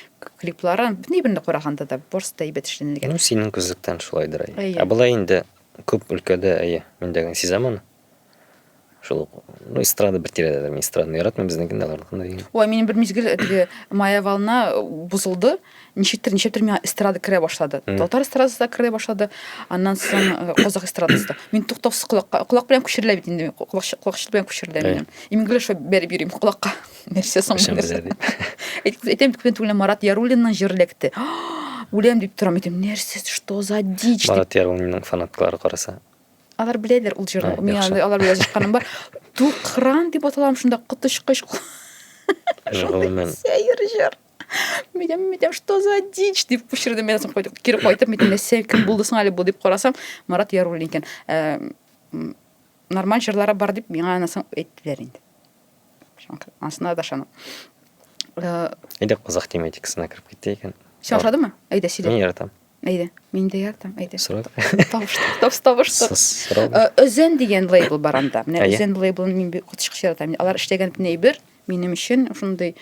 Speaker 1: клиплары ни бирне караганда да барысы да әйбәт эшләнелгән ну синең күзлектән шулайдыр әйе ә болай инде күп өлкәдә әйе мин дә сизәм аны шул ну эстрада бер тирәдәдер мин эстраданы яратмыйм безнекендә аларныкында дигән ой минем бер мизгел теге моя волна бозылды ничектер ничектер миңа эстрада керә башлады татар эстрадасы да керә башлады аннан соң э, казах эстрадасы да мин туктаусыз колакка колак белән күчерелә бит инде колакчык белән күчерелә минем имглиш бәреп йөрим колакка нәрсә соң әйтәм күптән түгел марат яруллинның җыр эләкте үләм дип торам әйтәм нәрсә что за дичь марат яруллинның фанатлары караса алар беләләр ул җырны мин алар белән язышканым бар тукран дип аталам шунда коточкыч гомумән сәер җыр Мидем, мидем, что за дичь? дип пүшердем. Мидем, кайтып, кире кайтып, мидем, не сен, кем булды соң әле бу дип карасам, Марат Яруллин икән. Ә, Нормаль җырлары бар дип миңа анасын әйттеләр инде. Анысына да ышанам. Э, Әйдә кызык тематикасына кереп китте икән. Син ошадымы? Әйдә, сөйлә. Мин яратам. Әйдә, мин дә яратам. Әйдә. Сорау. Табыш, табыш, табыш. Сорау. Э, Өзен дигән лейбл бар анда. Менә Үзен лейблын мин бик котышкыч яратам. Алар эшләгән бер Минем өчен шундый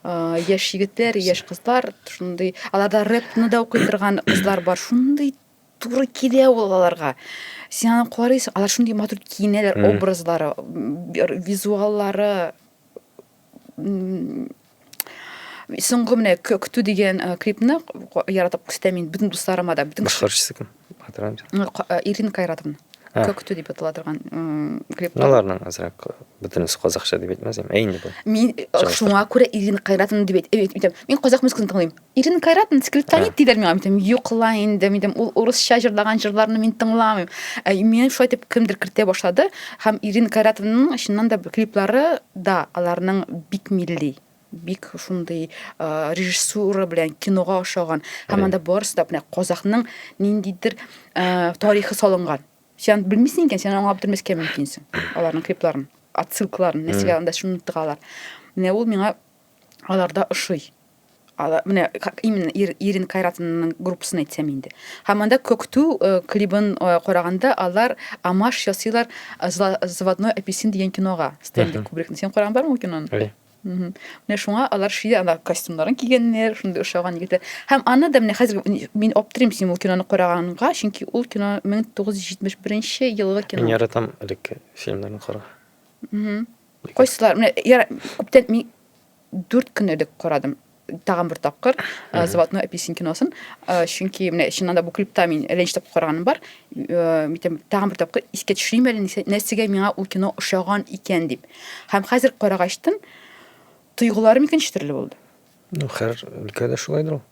Speaker 1: яшь егетләр, яшь кызлар, шундый аларда рэпны да укый торган кызлар бар. Шундый туры килә ул аларга. Син аны карыйсың, алар шундый матур киенәләр, образлары, визуаллары соңгы менә көтү дигән клипны яратып күрсәтәм мин бөтен дусларыма да бөтен башкаручысы кем Э, Ирина Кайратовна. Ә. Көктү дип атала торган клип. Аларның азрак бөтенесе казакча дип әйтмәс идем. Ә инде бу. Мин э, шуңа күрә Ирина Кайратовна дип әйтәм. Мин казак музыкасын тыңлыйм. Ирина Кайратовна скриптонит диләр миңа. Мин юк ла инде, мин ул урысча җырлаган җырларны мин тыңламыйм. Ә мин шулай дип кемдер кертә башлады һәм Ирина Кайратовнаның чыннан да клиплары да аларның бик милли. бик шундый режиссура белән кинога ошаган һәм анда барысы да менә казахның ниндидер тарихы салынган сен белмисең икән сен аңлап бетермәскә мөмкинсең аларның клипларын отсылкаларын нәрсәгә анда шуны тыгалар менә ул миңа аларда ошый менә именно ирин кайратовнаның группасын әйтсәм инде һәм анда көктү клибын караганда алар амаш ясыйлар заводной апельсин дигән кинога стэнли кубрикны сен караган бармы ул киноны Менә шуңа алар ши ана костюмнарын кигәннәр, шундый ошаган егетләр. Һәм аны да менә хәзер мин аптырыйм син ул киноны караганга, чөнки ул кино 1971 елгы кино. Мин яратам элекке фильмнарны кара. Кайсылар? Менә күптән мин 4 көн элек карадым. тагын бер тапкыр э, золотной апельсин киносын э, чөнки менә чыннан да бу клипта мин әлләнче тапкыр караганым бар э, митем тагын бер тапкыр искә төшерим әле нәрсәгә миңа ул кино ошаган икән дип һәм хәзер карагачтын тойгыларым икенче төрле булды ну һәр өлкәдә шулайдыр ул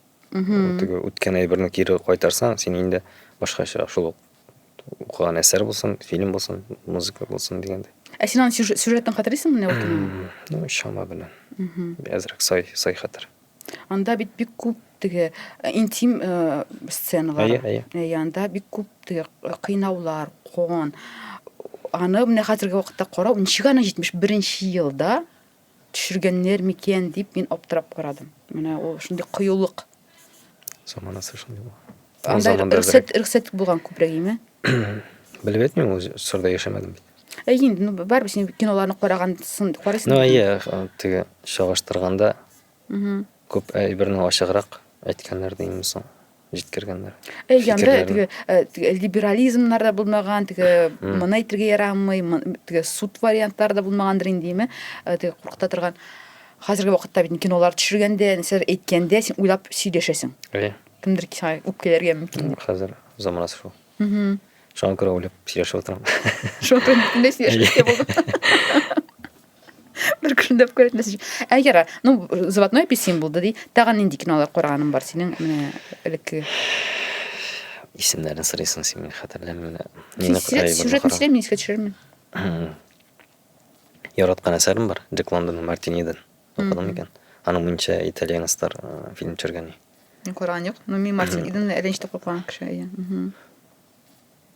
Speaker 1: теге үткән әйберне кире кайтарсаң син инде башкача шул ук укыган әсәр булсын, фильм булсын, музыка булсын дигәндә. Ә син аны сюжетын хәтерлисеңме менә ул Ну, чама белән. Әзрәк сай, сай хәтер. Анда бит бик күп теге э, интим э, сценалар. Әйе, әйе. Әйе, анда бик күп теге э, кыйнаулар, кон. Аны менә хәзерге вакытта карау, ничек аны 71 елда төшергәннәр микән дип мин аптырап карадым. Менә ул шундый кыюлык. Заманасы шундый бу. Анда рөхсәт рөхсәт булган күбрәк име? Белеп әйтмим, ул сырда яшәмәдем бит. Ә инде ну барыбер син киноларны караган сон карыйсың. Ну, әйе, теге чагыштырганда Күп әйберне ачыграк әйткәннәр димме соң? Җиткергәннәр. Әй, янда теге э, э, либерализмнар да булмаган, теге моны әйтергә ярамый, теге суд вариантлар да булмагандыр инде, димме? Э, теге куркыта торган. Хәзерге вакытта бит кинолар төшергәндә, нәрсәләр әйткәндә син уйлап сөйләшәсең. Әйе. Кемдер сиңа үпкәләргә мөмкин. Хәзер заманасы шул. Шуңа күрә уйлап сөйләшеп утырам. Шуңа күрә мендә сөйләшкән булды. Бер көлдәп күрәтмәсен. Ә яра, ну, заводной апельсин булды ди. Тагын нинди кинолар караганың бар синең менә элекке? Исемнәрен сорыйсың син мин хәтерләмим. Сюжетны сөйләм, мин искә төшерермен. Яраткан әсәрем бар, Джек Лондонның Мартиниден. Укыдым икән. Аның мунча итальянецлар фильм төшергән. Икән. Мин караган юк. Ну, мин Мартин Иден рәнҗетеп курккан кеше. әйе. Мгм.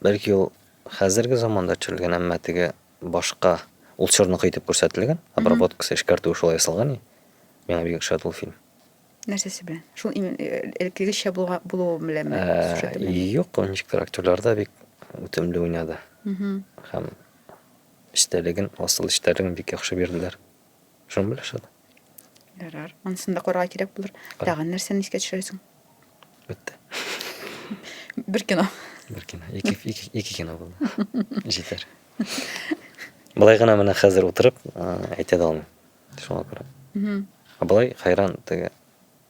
Speaker 1: Бәлки ул хәзерге заманда төшерелгән, әмма теге башка ул чорныкы итеп күрсәтелгән, обработкасы, эшкәртүе шулай ясалган и. Миңа бик ошады ул фильм. Нәрсәсе белән? Шул имен- э, элеккегечә булга- булуы беләнме? Ә, Сюжеты белән? Юк, ул ничектер актерлар да бик үтемле уйнады Мгм. һәм эчтәлеген, асыл эчтәлеген бик яхшы бирделәр. Шуны беләш аны. Ярар. Анысын да карарга кирәк булыр. Кара. Тагын нәрсәне искә төшерәсең? Бетте. Бер кино. Бер кино. Ике, ике, ике кино булды. Җитәр. Былай гына менә хәзер утырып ә, әйтә дә алмыйм. Шуңа күрә. Мгм. Ә былай хайран теге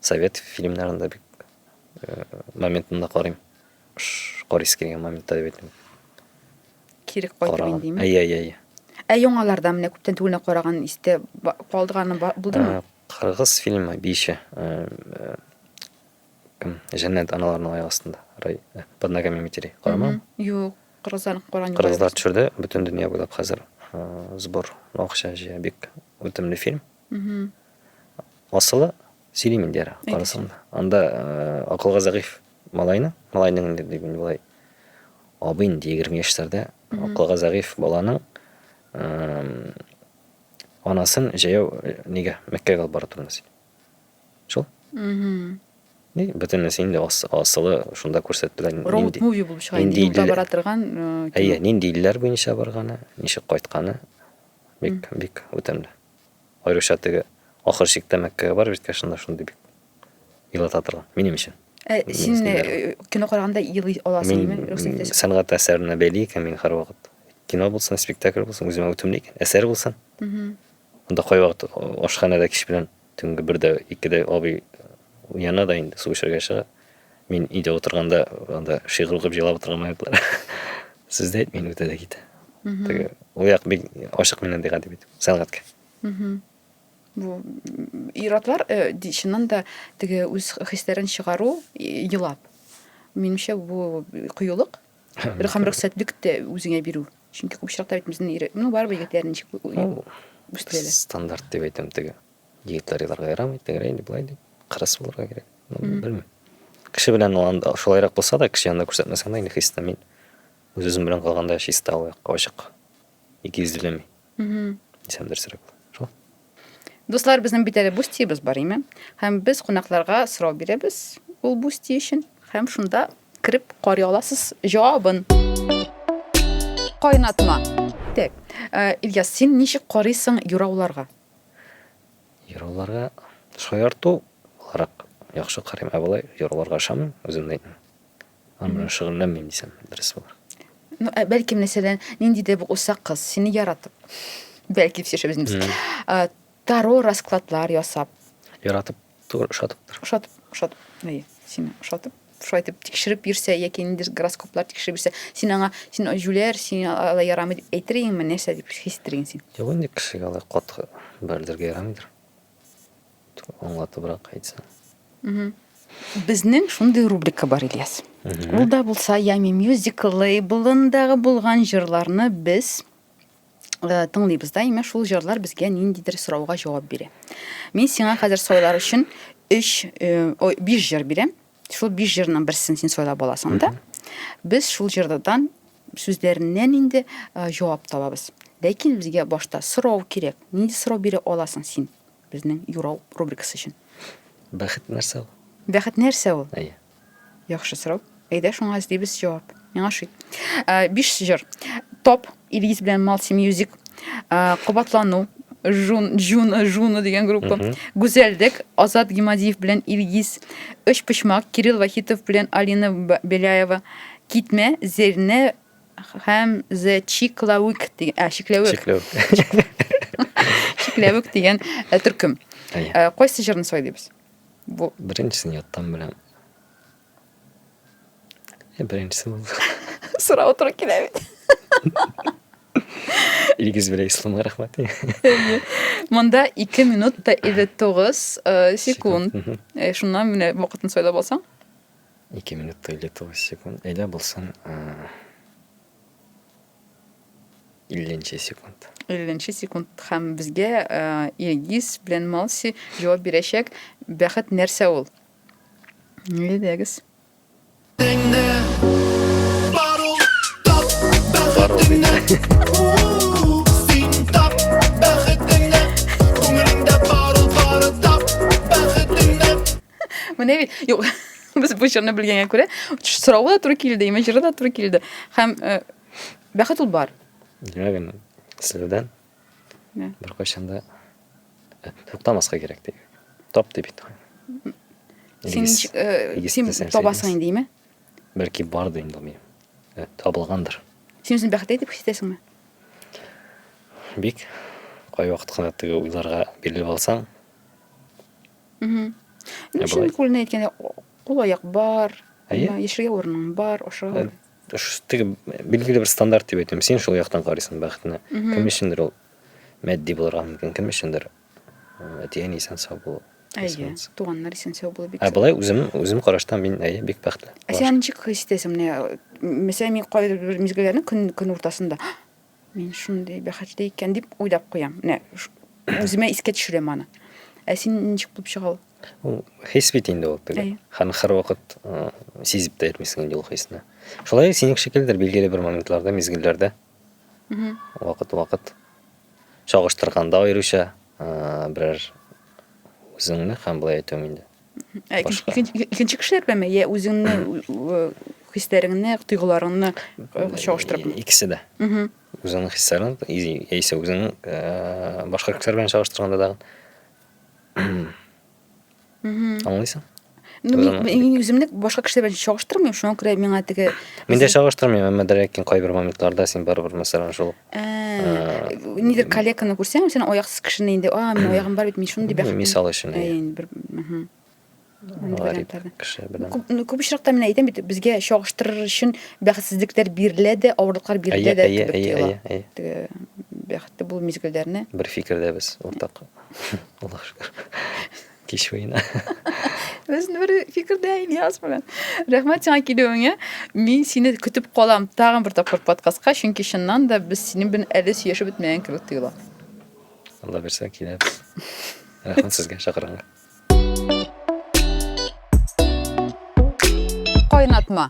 Speaker 1: совет фильмнарын да бик э, моментында карыйм. Карыйсы килгән моментта дип әйтәм. Кире кайтып индеме? Әйе, әйе, әйе. Ә яңаларда менә күптән түгелне караган истә калдыганы булдымы? Кыргыз фильмы Биши. Кем? Җәннәт аналарның аяк астында. Рай. Под ногами матерей. Карамам. Юк, кыргызлар караган. Кыргызлар төшерде, бөтен дөнья буйлап хәзер сбор, акча җыя. Бик үтемле фильм. Асылы сөйлим инде Анда акылга зәгыйфь малайны, малайның инде дип инде болай абый инде егерме яшьләрдә акылга зәгыйфь баланың анасын җәяү э, нигә мәккәгә алып бара тордыңыз шул и бөтенесе инде асылы шунда күрсәттеләр роуд муви булып чыга инде юлда бара торган э, әйе нинди илләр буенча барганы ничек кайтканы бик бик үтемле Аеруча теге ахыр чиктә Мәккәгә бар бит, шунда шундый бик елата торган, минем өчен. Ә син кино караганда елый аласыңмы? Мин сәнгать әсәренә бәйле икән мин һәрвакыт. Кино булсын, спектакль булсын, үземә үтемле икән, әсәр булсын. Анда кайвакыт ашханәдә кич белән төнге бердә, икедә абый уяна да инде су эчәргә чыга. Мин өйдә утырганда анда шигырь укып җырлап утырган минутлар. Сүз дә әйтмим үтә дә китә. Теге ул як бик ачык миннән ди гади бит сәнгатькә. Бу ир-атлар э, ди- чыннан да теге үз хисләрен чыгару и- елап. Минемчә бу кыюлык һәм рөхсәтлек тә үзеңә бирү. Чөнки күп очракта бит безнең ир, ну барыбер егетләр ничек ү- Ул үстерәләр. стандарт дип әйтәм теге. Директорияләргә ярамый, тегерәй инде, былай инде. Кырыс булырга кирәк. Белмим. Кеше белән ул анда шулайрак булса да, кеше янында күрсәтмәсәң дә, инде хис итәм мин. Үз үзем белән калганда чиста ул якка ачык. Ике йөзлеме? Дисәм дөресрәк. Шул. Дуслар, безнең бит әле бустиебез бар, име? Һәм без кунакларга сорау бирәбез ул бусти өчен. Һәм шунда кереп карый аласыз җавабын. Кайнатма. Так. Ильяс, син ничек карыйсың юрауларга? Йоруларга шаярту буларак яхшы карыйм, ә болай йоруларга ошамыйм, үзем дә әйтмим. Аны белән шөгыльләнмим дисәм дөрес булыр. Ну, ә бәлки, мәсәлән, нинди дә бу усак кыз, сине яратып, бәлки сөйләшәбез инде без. Таро раскладлар ясап. Яратып Тур ошатыптыр. Ошатып, ошатып. Әйе, сине ошатып шулай итеп тикшереп йөрсә яки ниндидер гороскоплар тикшереп йөрсә, син аңа син җүләр, син алай ярамый дип әйтер идеңме, нәрсә дип хис итер идең син? Юк инде кешегә алай каты бәрелергә ярамыйдыр. Аңлатыбрак әйтсәң. Безнең шундый рубрика бар, Ильяс. Ул да булса Ями мюзиклы, болындагы булган җырларны без Э, тыңлыйбыз да имеш шул җырлар безгә ниндидер сорауга җавап бирә мин сиңа хәзер сайлар өчен өч э, ой биш җыр бирәм шул биш җырның берсен син сайлап аласың да без шул җырдан сүзләреннән инде э, җавап табабыз ләкин безгә башта сорау кирәк нинди сорау бирә аласың син безнең юрау рубрикасы өчен бәхет нәрсә ул бәхет нәрсә ул әйе Яхшы сорау. Әйдә шуңа эзлибез җавап. Миңа ши. Э, биш җыр. Топ, Илгиз белән Малси Мьюзик, э, Кубатлану, Жун, Жун, Жуна дигән группа, Гүзәлдек, Азат Гимадиев белән Илгиз, Өч почмак, Кирилл Вахитов белән Алина Беляева, Китмә, Зерне һәм The Чиклавик дигән, ә, Чикләвек. Чикләвек дигән э, төркем. Кайсы җырны сайлыйбыз? Бу беренчесен яттан беләм. Е, беренчесе бу. Сорау туры килә бит. Илгиз белән Исламга рәхмәт. Монда 2 минут та 59 э, секунд. Э, шуннан менә вакытын сайлап алсаң. 2 минут та 59 секунд. Әйдә булсын. Э, 50 секунд. 50 секунд һәм безгә Иргиз белән Малси җавап бирәчәк. Бәхет нәрсә ул? Нигә дәгез? Менә бит. Юк. Без бу җырны белгәнгә күрә, соравы да туры килде, имә җыры да туры килде. Һәм э, бәхет ул бар. Димәк, аны сездән Мә. беркайчан да э, туктамаска кирәк ди. Тап ди бит. Син Илгиз, ничек, э, Илгиз син дисәң, табасың Илгиз. инде, име? Бәлки бар да инде мин. Э, Табылгандыр. Син үзеңне бәхетле дип хис итәсеңме? Бик кайвакыт кына теге уйларга бирелеп алсаң, Мм. Инде шул күлне әйткәндә, кул аяк бар, яшәргә урының бар, ашарга. Теге билгеле бер стандарт дип әйтәм. Син шул яктан карыйсың бәхетне. Кем өчендер ул матди булырга мөмкин, кем өчендер әти әни исән сау булу. Әйе, туганнар исән сау булу бик. Ә болай үзем үзем караштан мин әйе бик бәхетле. Ә син ничек хис итәсең менә? Мәсәлән, мин кайбер мизгелләрне көн көн уртасында Мин шундый бәхетле икән дип уйлап куям. Менә үземә искә төшерәм аны. Ә син ничек булып чыга ул? Ул хис бит инде ул теге. Һәм һәрвакыт сизеп тә йөрмисең инде ул хисне. Шулай синең шикелдер билгеле бер моментларда, мизгелләрдә. Вакыт-вакыт чагыштырганда аеруча берәр үзеңне һәм былай әйтәм инде. Ә икенче кешеләр беләнме? Йә үзеңне хисләреңне, тойгыларыңны чагыштырып? Икесе дә. Үзеңнең хисләрең, яисә үзеңнең башка кешеләр белән чагыштырганда да. Аңлыйсың? Ну, мин үземне башка кешеләр белән чагыштырмыйм, шуңа күрә миңа теге Мин дә чагыштырмыйм, әмма дә ләкин кайбер моментларда син барыбер мәсәлән шул нидер коллеганы күрсәң сен аяксыз кешене инде а менә аягым бар бит мин шундый бәхет мисал өчен бер күп очракта мин әйтәм бит безгә чагыштырыр өчен бәхетсезлекләр бирелә дә авырлыклар бирелә дә кебек тоела теге бәхетле булу мизгелләрне бер фикердәбез уртак аллага шөкер Кич уена. Без бер фикердә Ильяс белән. Рәхмәт сиңа килүеңә. Мин сине көтеп калам тагын бер тапкыр подкастка, чөнки чыннан да без синең белән әле сөйләшеп бетмәгән кебек тоела. Алла бирсә киләбез. Рәхмәт сезгә чакырганга. Кайнатма.